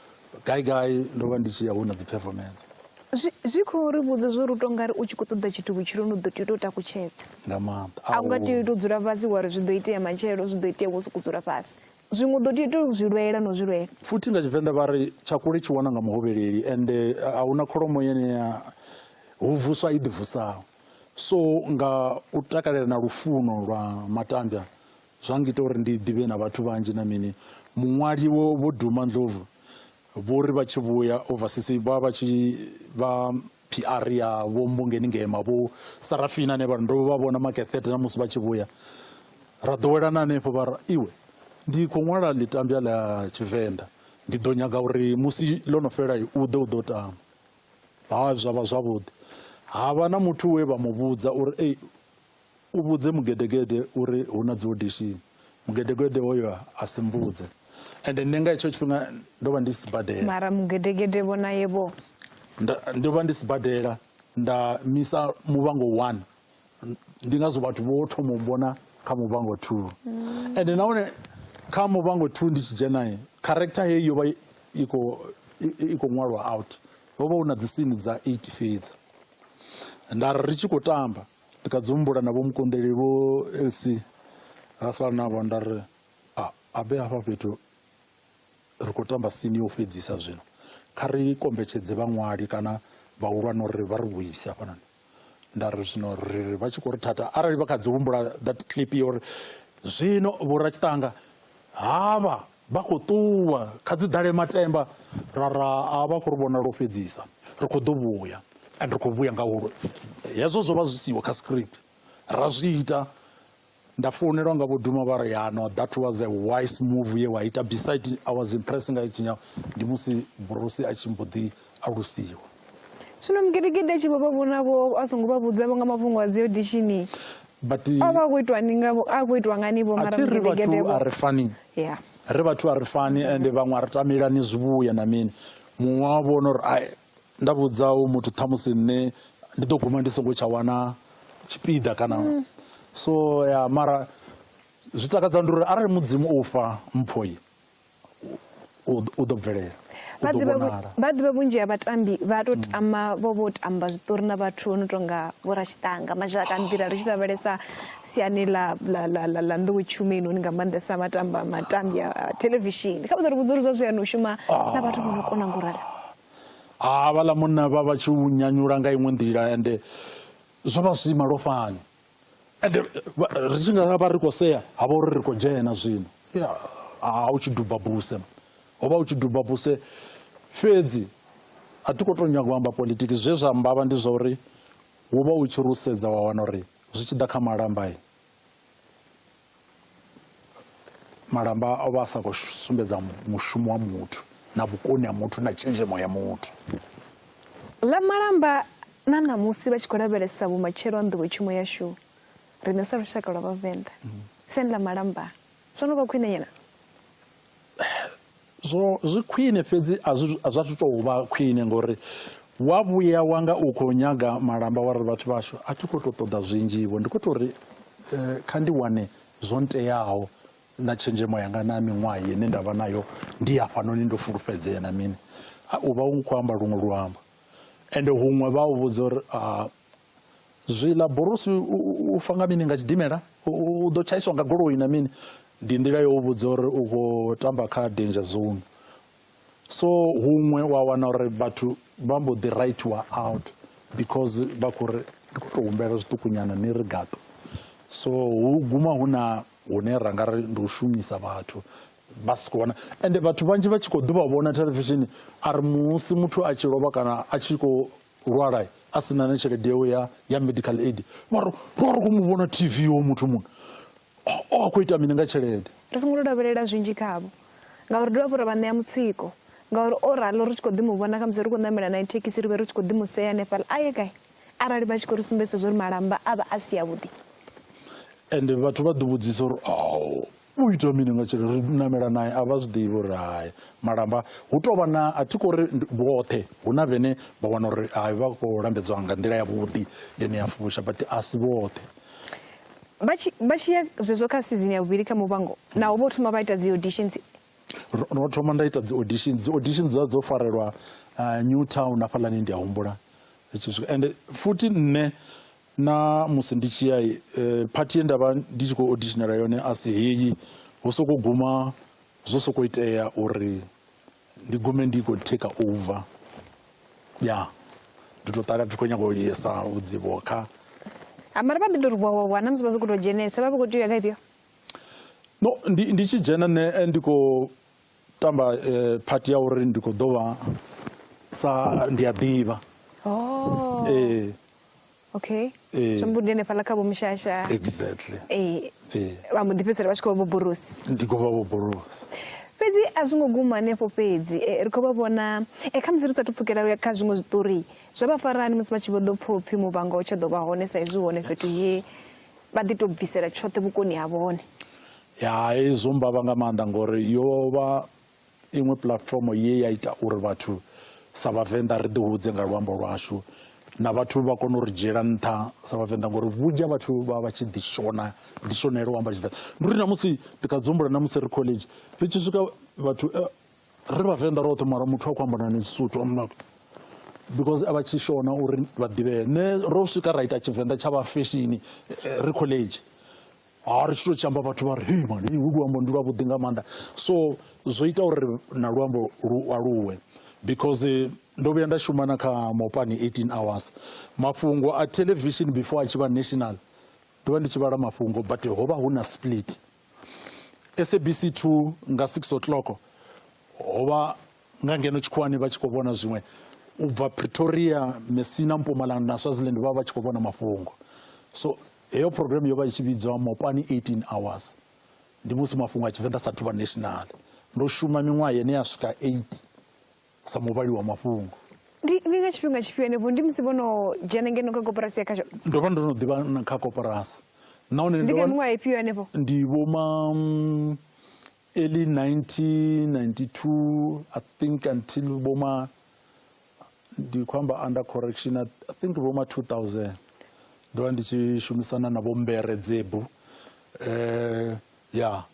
Gai gai ndo vha ndi tshi ya hu na dzi performance. Zwi, zwi khou ri vhudza zwo ri u tou nga ri u tshi khou ṱoḓa tshithu vhutshiloni u ḓo tea u tou takutshedza Nga maanḓa. a u nga tea u tou dzula fhasi wa ri zwi ḓo itea matshelo zwi ḓo itea wo sokou dzula fhasi zwiṅwe u ḓo tea u tou zwi lwela no zwi lwela Futhi nga Tshivenḓa vha ri tshakule tshi wana nga muhovheleli ende a hu na kholomo yene ya hu vuswa i ḓivusaho. So nga u takalela na lufuno lwa matambya Zwa ngita uri ndi ḓivhe na vhathu vhanzhi na mini. Muṅwali wo Vho Duma Ndlovu vho ri vha tshi vhuya overseas vha vha tshi vha PR ya Vho Mbongeni Ngema, Vho Sarafina ane vha ri ndo vha vhona Makethete na musi vha tshi vhuya ra ḓowelana hanefho vha ra iwe ndi khou ṅwala ḽitambya ḽa Tshivenḓa ndi ḓo nyaga uri musi ḽo no fhela u ḓe u ḓo tama. Ha zwa vha zwavhuḓi. Ha vha na muthu we vha mu vhudza uri ei U vhudze mugedegede uri hu na dziodishini. Mugedegede hoyo a si mbudze. Ende nṋe nga hetsho tshifhinga ndo vha ndi sibadela. Mara mugedegede vho naye vho. Ndo vha ndi sibadela nda misa muvhango 1 ndi ngazwo vhathu vho thoma u mbona kha muvhango 2 mm. ende nahone kha muvhango 2 ndi tshi dzhena character heyi yo vha i khou i khou ṅwalwa out ho vha hu na dzisini dza 8 fhedzi nda ri ri tshi khou tamba Ndi kha dzi humbula na vho mukonḓeli vho LC ra sala navho nda ri a a be hafha fhethu ri khou tamba sini yo fhedzisa zwino kha ri kombetshedze vhaṅwali kana vhahulwane uri vha ri vhuise hafhanoni nda ri zwino ri vha tshi khou ri thatha arali vha kha dzi humbula that clip yo uri zwino vho ra tshiṱanga havha Vha khou ṱuwa, kha dzi ḓale matemba. Ra ra, A vha khou ri vhona lwo fhedzisa, ri khou ḓo vhuya and ri khou vhuya nga hu. Hezwo zwo vha zwi siho kha script, ra zwi ita. Nda founelwa nga vho Duma vha ri, Ya no, that was a wise move ye wa ita, beside I was impressed nga Tshinyau, ndi musi Brosi a tshi mbo ḓi. alusiwa. Zwino Mugedegede a tshi vho vha vhona-vho, a songo vha vhudza-vho nga mafhungo a dzi odishini. But O vha a khou itwa ni nga a khou itwa ngani vho a mara thi ri vhathu mugedegede a vho. ri fani. Yeah. Ri vhathu a ri fani ende vhaṅwe a ri tamelani zwivhuya na mini. Muṅwe wa vhona uri ai nda vhudza hoyu muthu ṱhamusi nṋe ndi ḓo guma ndi songo tsha wana tshipiḓa kana so ya mara zwi takadza ndi uri arali mudzimu o u fha mphoi u ḓo bvelela vha ḓivha vhunzhi ha vhatambi vha to tama vho vho tamba zwiṱori na vhathu vho no tonga vho rashitanga mazhaka nḓila ri tshi lavhelesa siani ḽa ḽa nḓowetshumo inoni nga maanḓesa matamba matambi a thelevishini kha vha ḓo ri vhudza uri zwa zwiyani u shuma na vhathu vho no kona ngo rala a vhaḽa munna vha vha tshi u nyanyula nga iṅwe nḓila ende zwo vha zwi malofhani ende ri tshi nga vha ri khou sea ha vha uri ri khou dzhena zwino ha u tshi duba buse ho vha u tshi duba buse fhedzi a thi khou tou nyaga u amba politiki zwe zwa mbavha ndi zwa uri wo vha u tshi rusedza wa wana uri zwi tshi ḓa kha malamba malamba o vha a sa khou sumbedza mushumo wa muthu na vhukoni ha muthu na tshenzhemo ya muthu ḽa malamba na ṋamusi vha tshi khou lavhelesa vhumatshelo ha nḓowetshumo yashu riṋe sa lushaka lwa vhavenḓa mm. siani ḽa malamba zwo no vha khwine nyana zwo zwi khwine fhedzi a zwi a zwa tou vha khwine ngori wa vhuya wa nga u khou nyaga malamba wa ri vhathu vhashu a thi khou tou ṱoḓa zwinzhivho ndi khou tou ri eh, kha ndi wane zwo nteaho na tshenzhemo yanga na miṅwaha ine nda vha nayo ndi hafhanoni ndo fulufhedzea na mini u vha u khou amba luṅwe luambo ende huṅwe vha u vhudza uri ah, Zwiḽa Borusi u fa nga mini nga tshidimela? U ḓo tshaiswa nga goloi na mini? Ndi nḓila yo u vhudza uri u khou tamba kha danger zone. So huṅwe wa wana uri vhathu vha mbo ḓi writiwa out because vha khou ri ndi khou tou humbela zwiṱukunyana ni ri gaṱo. So hu guma hu na hune ra nga ri ndi u shumisa vhathu vha si khou vhona ende vhathu vhanzhi vha tshi khou ḓuvha vhona thelevishini a ri musi muthu a tshi lovha kana a tshi khou lwala a si na na tshelede yawe ya ya medical aid vha ro ro khou mu vhona tv wo muthu muno o a khou ita mini nga tshelede ri songo lavhelela zwinzhi khavho ngauri dovha fho ra vha ṋea mutsiko ngauri o ralo ri tshi khou ḓi mu vhona khamusi ri khou ṋamela na thekhisi ri vhe ri tshi khou ḓi mu sea hanefhala a ye gai arali vha tshi khou ri sumbedzisa zwa uri malamba a vha a si avhuḓi ende vhathu vha ḓo vhudzisa uri u ita mini nga tshelede ri namela naye a vha zwi ḓivhi uri hai malamba hu tou vha na a thi khou ri vhoṱhe hu na vhene vha wana uri hai vha khou lambedzwa nga nḓila yavhuḓi ine ya fusha but a si vhoṱhe vha tshi vha tshi ya zwezwo kha sizini ya vhuvhili kha muvhango naho vho thoma vha ita dzi auditions ro thoma nda ita dzi audition dzi audition dza dzo farelwa uh, new town hafhaḽani ndi a humbula ende futhi nṋe na musi ndi tshi ya phathi ye nda vha ndi tshi khou auditionela yone a si heyi ho sokou guma zwo sokou itea uri ndi gume ndi khou take over ya ndi tou ṱala ndi khou nyanga u yesa vhudzivo kha ah, mara vha ḓi tou ri wawawa na musi vha sokou tou dzhenesa vha vha khou tea u ya kha ifhio no ndi ndi tshi dzhena nṋe eh, ndi khou tamba eh, phathi ya uri ndi khou ḓo vha sa ndi a ḓivha oh. ee eh. Okay. Ee. Zwi mbundi hanefhaḽa kha vho mushasha. exactly Ee. Ee. Vha mbo ḓi fhedzisela vha tshi khou vha vho borosi. ndi khou vha vho borosi fhedzi a zwi ngo guma hanefho fhedzi eh, ri khou vha vhona eh, kha musi ri sathu pfukela u ya kha zwiṅwe zwiṱori zwa vha farani musi vha tshi vho ḓo pfha upfhi muvhango u tsha ḓo vha hone sa izwi hone fhethu he vha ḓi tou bvisela tshoṱhe vhukoni ha vhone ya hezwo mbavha nga maanḓa ngori yo vha iṅwe puḽatifomo ye ya ita uri vhathu sa vhavenḓa ri ḓihudze nga luambo lwashu na vhathu vha kone u ri dzhiela nṱha sa vhavenḓa ngori vhunzhi ha vhathu vha vha tshi ḓi shona ḓi shonela u amba tshivenḓa ndi uri namusi ndi kha dzumbula namusi ri college ri tshi swika vhathu eh, ri vhavenḓa roṱhe mara muthu a khou amba nani tshisuthu because a vha tshi shona uri vha ḓivhee nṋe ro swika ra ita tshivenḓa tsha vha feshini eh, ri college ha ri tshi tou tshi amba vhathu vha ri hei mani hu luambo ndi lwavhuḓi nga maanḓa so zwo ita uri na luambo lu aluwe because ndo vhuya nda shuma na kha mopani 18 hours mafhungo a television before a tshi vha national ndo vha ndi tshi vhala mafhungo but ho vha hu na split sabc 2 nga 6 o'clock ho vha nga ngeno tshikhuwani vha tshi khou vhona zwiṅwe u bva pretoria messina mpumalanga na swaziland vha vha tshi khou vhona mafhungo so Heyo program yo vha i tshi vhidzwa Mopani 18 Hours. Ndi musi mafhungo a Tshivenḓa sa thuvha national. Ndo shuma miṅwaha yene ya swika 8 sa muvhali wa mafhungo. Ndi ndi nga tshifhinga tshifhio henefho ndi musi vho no dzhena ngeno kha koporasi ya khasho? Ndo vha ndo no ḓivha kha koporasi. Nahone ndi nga miṅwaha ifhio henefho? Ndi vho ma mm, early 1992 I think until vho ma ndi khou amba under correction i think vho ma 2000 ndo vha ndi tshi shumisana na vho mbere dzebu eh ya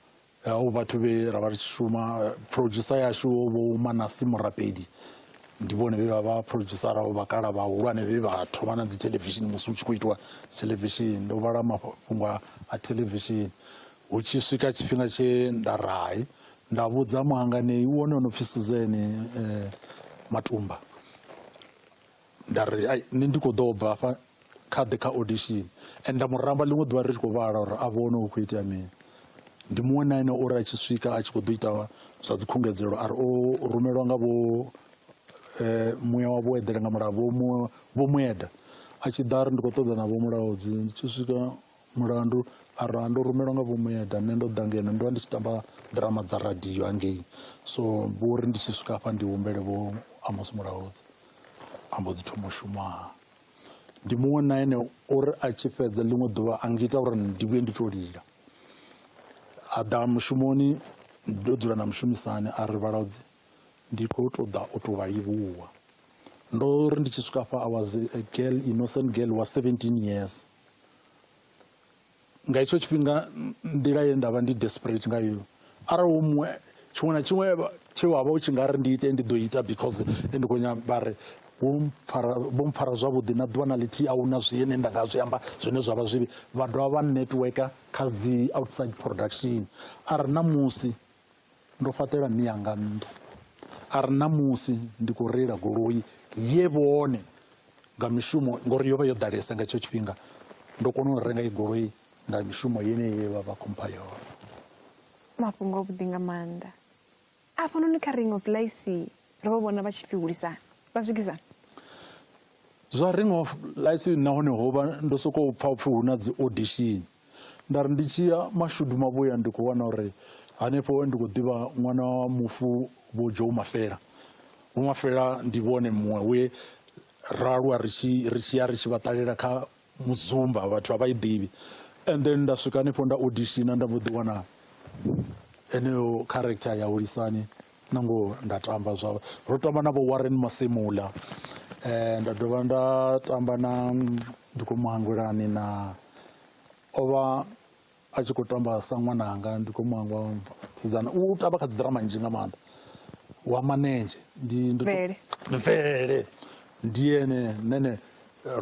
o vhathu vhe ra vha ri tshi shuma producer yashu vho manasi murapedi ndi vhone vhe vha vha producer ravho vhakala vhahulwane vhe vha thoma na dzi television musi u tshi khou itiwa dzi television ndo vhala mafhungo a television hu tshi swika tshifhinga tshe nda rai nda vhudza muhanganei wone o no pfhi suzeni eh, matumba nda ri ai ni ndi khou ḓo bva afha kha ḓe kha audition and nda muramba ḽiṅwe ḓuvha ri tshi khou vhala uri a vhone hu khou itea mini ndi muṅwe na ene uri a tshi swika a tshi khou ḓo ita zwa dzikhungedzelo ari o rumelwa nga vho eh, muya wa vhuedele nga mulao vho mueda a tshi ḓa ri ndi khou ṱoḓa na vho mulaodzi ndi tshi swika mulandu arali ndo rumelwa nga vho mueda nṋe ndo ḓa ngeno ndo vha ndi tshi tamba ḓirama dza radio hangei so vho ri ndi tshi swika hafha ndi humbele vho amos mulaudzi a mbo dzi thoma u shumaha ndi muṅwe na ene uri a tshi fhedza ḽiṅwe ḓuvha a ngita uri ndi vhuye ndi to lila a ḓa mushumoni ndo dzula na mushumisani a ri vhalaudzi ndi khou tou ḓa u tou vha livhuwa ndo ri ndi tshi swika hafha i was a girl innocent girl wa 17 years nga hetsho tshifhinga nḓila ye nda vha ndi desperate nga yo arali hu muṅwe tshiṅwe na tshiṅwe tshe wa vha u tshi nga ri ndi ite ndi ḓo ita because ndi khou nyamba ri vho mpfara vho mpfara zwavhuḓi na ḓuvha na ḽithihi a huna zwine nda nga zwi amba zwine zwa vha zwivhi vha dovha vha networker kha dzi outside production a ri na musi Ndo fhaṱela mme anga nnḓu a ri na musi ndi khou reila goloi ye vhone nga mishumo ngori yo vha yo ḓalesa nga tshetsho tshifhinga ndo kona u renga i goloi nga mishumo yeneyi ye vha vha khompha yone mafhungo a vhuḓi nga maanḓa afhanoni kha ring of lice ro vha vhona vha tshi pfi hulisana vha swikisana zwa ring of lice nahone ho vha ndo sokou pfa upfi hu na dzi audition nda ri ndi tshi ya mashudu mavhuya ndi khou wana uri hanefho ndi khou ḓivha ṅwana wa mufu vho joe mafela vho mafela ndi vhone muṅwe we ra aluwa ri tshi ri tshi ya ri tshi vha ṱalela kha muzumba vhathu a vha i ḓivhi and then nda swika hanefho nda odishina nda mbo ḓi wana eneyo character ya hulisani na ngoho nda tamba zwa ro tamba na vho warren masemula um nda dovha nda tamba na ndi khou mu hangwelani na o vha a tshi khou tamba sa ṅwananga ndi khou mu hangwa sidzana u tamba kha dzi ḓirama nzhi nga maanḓa wa manenzhe ndi mvelele ndi ene nene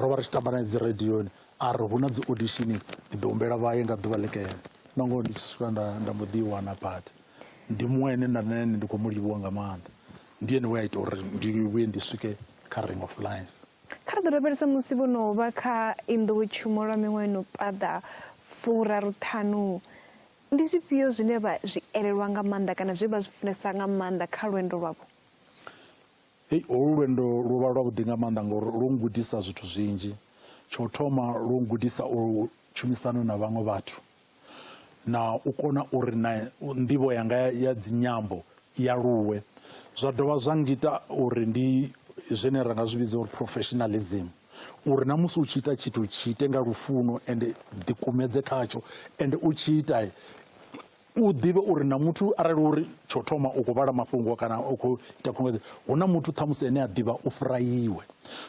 ro vha ri tshi tamba na dzi radioni a ri hu na dzi auditioning ndi ḓo humbela vha ye nga ḓuvha ḽikene na ngoho ndi tshi swika nda nda mbo ḓi i wana badi ndi muṅwe ane nda nene ndi khou mu livhuwa nga maanḓa ndi ene we a ita uri ndi vhuye ndi swike kha ring of lines kha ri ḓo lavhelesa musi vho no vha kha inḓowetshumo lwa miṅwaha no paḓa furaru ṱhanu ndi zwifhio zwine vha zwi elelwa nga maanḓa kana zwe vha zwi funesa nga maanḓa kha lwendo lwavho hei holu lwendo lwo vha lwavhuḓi nga maanḓa ngori lwo ngudisa zwithu zwinzhi tsho thoma lwo ngudisa u tshumisano na vhaṅwe vhathu na u kona uri na nḓivho yanga ya dzinyambo i aluwe zwa dovha zwa ngita uri ndi zwine ra nga zwi vhidza uri professionalism uri na musi u tshi ita tshithu tshi ite nga lufuno ende ḓikumedze khatsho ende u tshi ita u ḓivhe uri na muthu arali uri tsho thoma u khou vhala mafhungo kana u khou ita khunguwedzo hu na muthu ṱhamusi ane a ḓivha u fhira iwe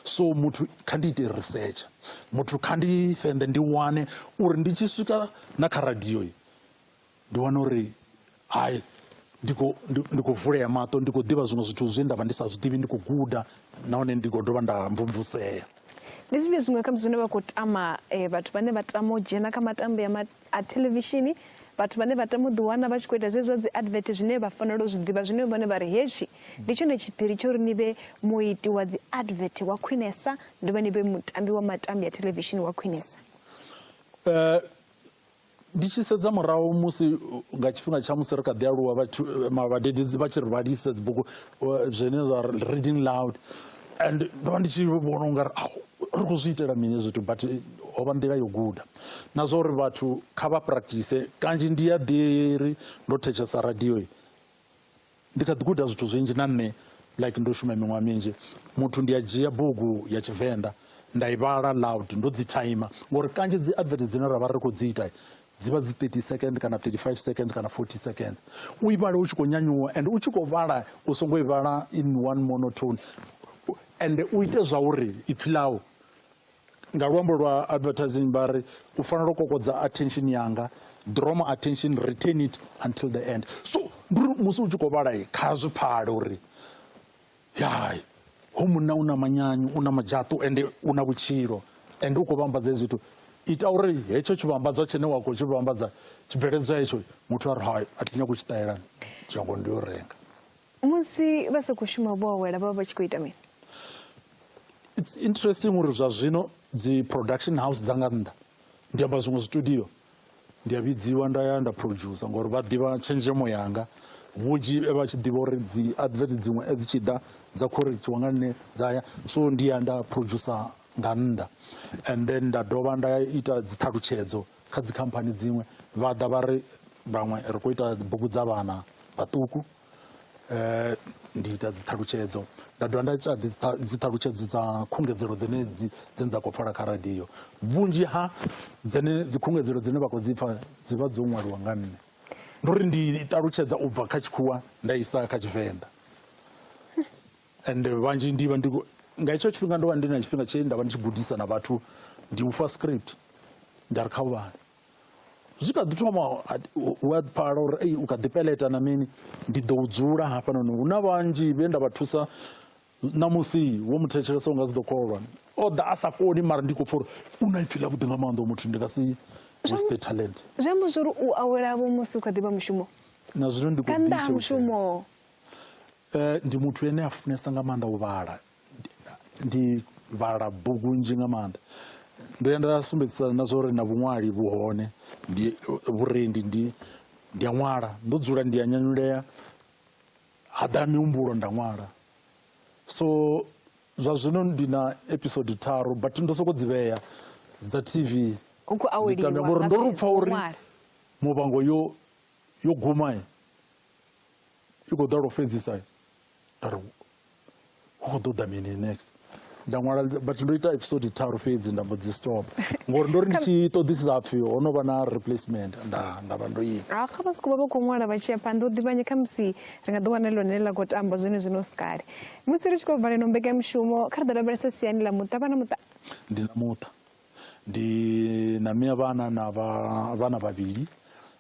so muthu kha ndi ite risetsha muthu kha ndi fhende ndi wane uri ndi tshi swika na kha radio ndi wane uri hai ndi khou ndi khou vulea maṱo ndi khou ḓivha zwiṅwe zwithu zwe nda vha ndi sa zwi ḓivhi ndi khou guda nahone ndi khou dovha nda mvumvusea ndi zwifhio zwiṅwe khamusi zwine vha khou tama um vhathu vhane vha tama u dzhena kha matambo ya A thelevishini, vhathu vhane vha tama u ḓiwana vha tshi khou ita zwezwi zwa dzi advert zwine vha fanela u zwi ḓivha zwine vhone vha ri hetshi ndi tshone tshiphiri tsho ri ni vhe muiti wa dzi advert wa khwinesa ndi vha ni vhe mutambi wa matambi a thelevishini wa khwinesa uh, ndi tshi sedza murahu musi nga tshifhinga tsha musi ri kha ḓi aluwa vhadededzi vha tshi ri vhalisa dzibuku zwine zwa reading loud and ndo vha ndi tshi vhona ungari ri khou zwi itela mini zwithu but ho vha nḓila yo guda na zwa uri vhathu kha vha practice kanzhi ndi ya ḓiri ndo thetshelesa radio ndi kha ḓi guda zwithu zwinzhi na nṋe like ndo shuma miṅwaha minzhi muthu ndi a dzhia bugu ya tshivenḓa nda i vhala loud ndo dzi timer ngori kanzhi dzi advert dzine ra vha ri khou dzi ita dzi vha dzi 30 second kana 35 second kana 40 seconds u i vhale u tshi khou nyanyuwa and u tshi khou vhala u songo i vhala in one monotone and u ite zwa uri ipfhi ḽau Nga luambo lwa advertising vha ri u fanela u kokodza attention yanga draw my attention retain it until the end so ndi uri musi u tshi khou vhala kha zwi pfale uri hai ho munna u na manyanyu u na madzhaṱu ende u na vhutshilo ende u khou vhambadza hezwi zwithu ita uri hetsho tshivhambadzwa tshine wa khou tshi vhambadza tshibveledzwa hetsho muthu a ri hai a thi nyagi u tshi ṱahelani dzhango ndi yo renga musi vha sa khou shuma vho awela vha vha vha tshi khou ita mini it's interesting uri zwa zwino dzi production house dza nga nnḓa ndi amba zwiṅwe zwitudio ndi a vhidziwa nda ya nda producer ngori vha ḓivha tshenzhemo yanga vhunzhi e vha tshi ḓivha uri dzi advert dziṅwe e dzi tshi ḓa dza khorekthiwa nga nṋe dza ya so ndi ya nda producer nga nnḓa and then nda dovha nda ita dzi ṱhalutshedzo kha dzikhamphani dziṅwe vha ḓa vha ri vhaṅwe ri khou ita bugu dza vhana vhaṱuku um ndi ita dziṱhalutshedzo nda dovha nda ita dziṱhalutshedzo dza khungedzelo dzine dzine dza khou pfala kha radio vhunzhi ha dzene dzikhungedzelo dzine vha khou dzi pfa dzi vha dzo ṅwaliwa nga nṋe ndi uri ndi ṱalutshedza u bva kha tshikhuwa nda isa kha tshivenḓa and vhanzhi ndi vha ndi nga hetsho tshifhinga ndo vha ndi na tshifhinga tshe nda vha ndi tshi gudisa na vhathu ndi ufha script nda ri kha u vhale zwi kha ḓi thoma u a pfala uri ei u kha ḓi peleta na mini ndi ḓo dzula hafhanoni hu na vhanzhi vhe nda vha thusa ṋamusi wo mu thetshelesa u nga si ḓo kholwa o ḓa a sa koni mara ndi khou pfa uri u na ipfi ḽa vhuḓi nga maanḓa muthu ndi nga si waste talent zwi amba zwori u awela vho musi u kha ḓi vha mushumo na zwino ndi khou ḓi mushumo ndi muthu ane a funesa nga maanḓa u vhala ndi vhala bugu nnzhi nga maanḓa ndo ya nda sumbedzisa na zwa uri na vhuṅwali vhu hone ndi vhurendi ndi ndi a ṅwala ndo dzula ndi a nyanyulea ha ḓa mihumbulo nda ṅwala so zwa zwino ndi na episode tharu but ndo soko dzi vhea dza tv ndi tame ngori ndo ri pfa uri muvhango yo yo guma i khou ḓa lwo fhedzisa nda ri hu khou ḓo ḓa mini next nda ṅwala but ndo ita episode tharu fhedzi nda mbo dzi stop ngori ndo ri ndi tshi ṱoḓisisa pfhi ho no vha na replacement nda nda vha ndo ima ah, kha vha sokou vha vha khou ṅwala vha tshi ya phanḓa u ḓivhanye kha musi ri nga ḓi wana ḽone ḽa khou tamba zwone zwino si kale musi ri tshi khou vala ino mbekanyamushumo kha ri ḓo lavhelesa siani ḽa muṱa vha na muṱa ndi na muṱa ndi na mia vhana na vhana vhavhili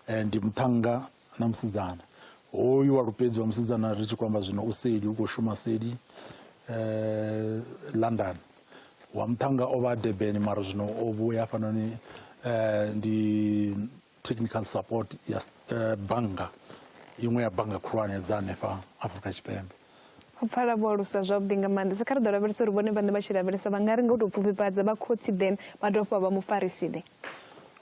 eh, ndi muṱhannga na musidzana hoyu wa lupedzi wa musidzana ri tshi khou amba zwino u seli u khou shuma seli eh, london wa muṱhannga o vha durban mara zwino o vhuya hafhanoni eh, ndi technical support ya eh, bannga iṅwe ya bannga khulwane dza hanefha afrika tshipembe u pfala vho alusa zwavhuḓi nga maanḓa sa kha ri ḓo lavhelesa uri vhone vhaṋe vha tshi lavhelesa vha nga ri nga u tou pfufhifhadza vha khotsi then vha dovha fha vha mufarisi then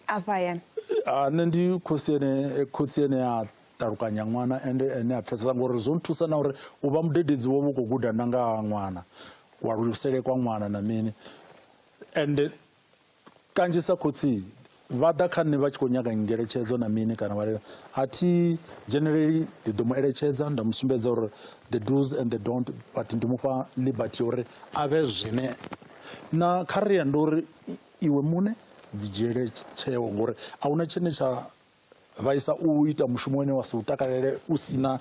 afha hayani ah, nṋe ndi khotsi ene eh, khotsi ene a ṱalukanya ṅwana ende ene a pfesesa ngori zwo nthusa na uri u vha mudededzi wo vha u khou guda na nga ṅwana kualulusele kwa ṅwana na mini ende Kanzhisa khotsi vha ḓa kha nṋe vha tshi khou nyaga ngeletshedzo na mini kana vha lila a thi dzheneleli ndi ḓo mu eletshedza nda mu sumbedza uri the do's and the don't but ndi mu fha liberty ya uri a vhe zwine na kha ri ya ndi uri iwe muṋe dzi dzhiele tsheo ngori a huna tshine tsha vha isa u ita mushumo une wa si u takalele u si na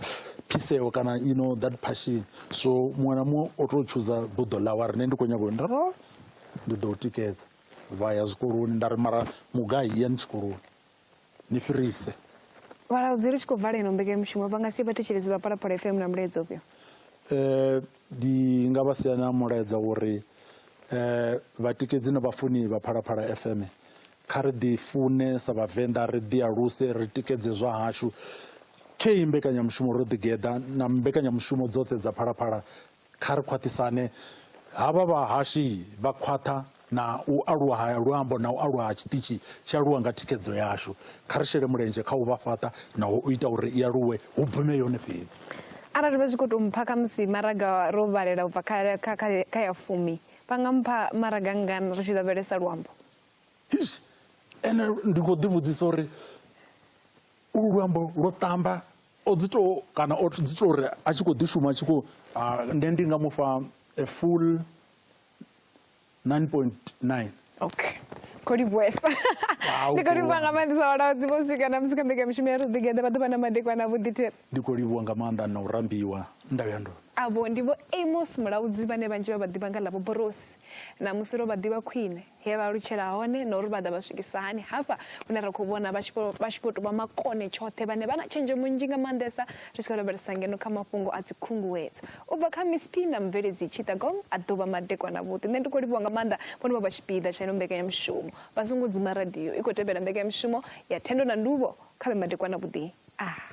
phiseo kana you know that passion so muṅwe na muṅwe o tou tshuza buḓo ḽawe ri ne ndi khou nyaga u ndaro ndi ḓo u tikedza vha ya zwikoloni nda ri mara mugai yani tshikoloni ni fhirise vhalaudzi ri tshi khou vala ino mbekanyamushumo vha nga si vhathetshelezi vha phalaphala fm na mulaedza ufhio um ndi nga vha siana mulaedza uri um vhatikedzi na vhafuni vha phalaphala fm Kha ri ḓi fune sa Vhavenḓa, ri ḓi aluse, ri tikedze zwa hashu. Khei mbekanyamushumo ro ḓi geḓa na mbekanyamushumo dzoṱhe dza Phalaphala kha ri khwaṱhisane. Havha vhahashi vha khwaṱha na u aluwa ha luambo na u aluwa ha tshiṱitshi tshi aluwa nga thikhedzo yashu. Kha ri shele mulenzhe kha u vha fhaṱa na u ita uri i aluwe, hu bvume yone fhedzi. Arali vha tshi khou tou mpha khamusi maraga ro vhalela u bva kha ya fumi, vha nga mpha maraga ngana ri tshi lavhelesa luambo? Eish ene ndi khou ḓi vhudzisa uri ulu luambo lwo ṱamba o dzi to kana o dzi to uri a tshi khou ḓi shuma a tshi khou nṋe ndi nga mufha a full 9.9 okay khou livhuesa ndi khou livhuwa nga maanḓesa vhalaudzi vho swika na musi kha mbekamishumo ya ri ḓigeḓa vha ḓuvha na madekwana a vhuḓithe ndi khou livhuwa nga maanḓa na u rambiwa ndau ya ndona avho ndi vho amos mulaudzi vhane vhanzhi vha vha ḓivha nga ḽa vhoborosi na musi ro vha ḓivha khwine he vha lutshela hone na uri vha ḓa vha swikisa hani hafha hune ra khou vhona vha tshi khou tou vha makone tshoṱhe vhane vha na tshenzhemo nnzhi nga maanḓesa ri tshi khou lavhelesa ngeno kha mafhungo a dzikhunguwedzo u bva kha miss p na mubveledzi tshitagong a ḓuvha madekwana vhuḓi nṋe ndi khou livhuwa nga maanḓa vhono vha vha tshipiḓa tsha ino mbekanyamushumo vha songo dzima radio i khou tevhela mbekanyamushumo ya thendo na nduvho kha vhe madekwana vhuḓi a ah.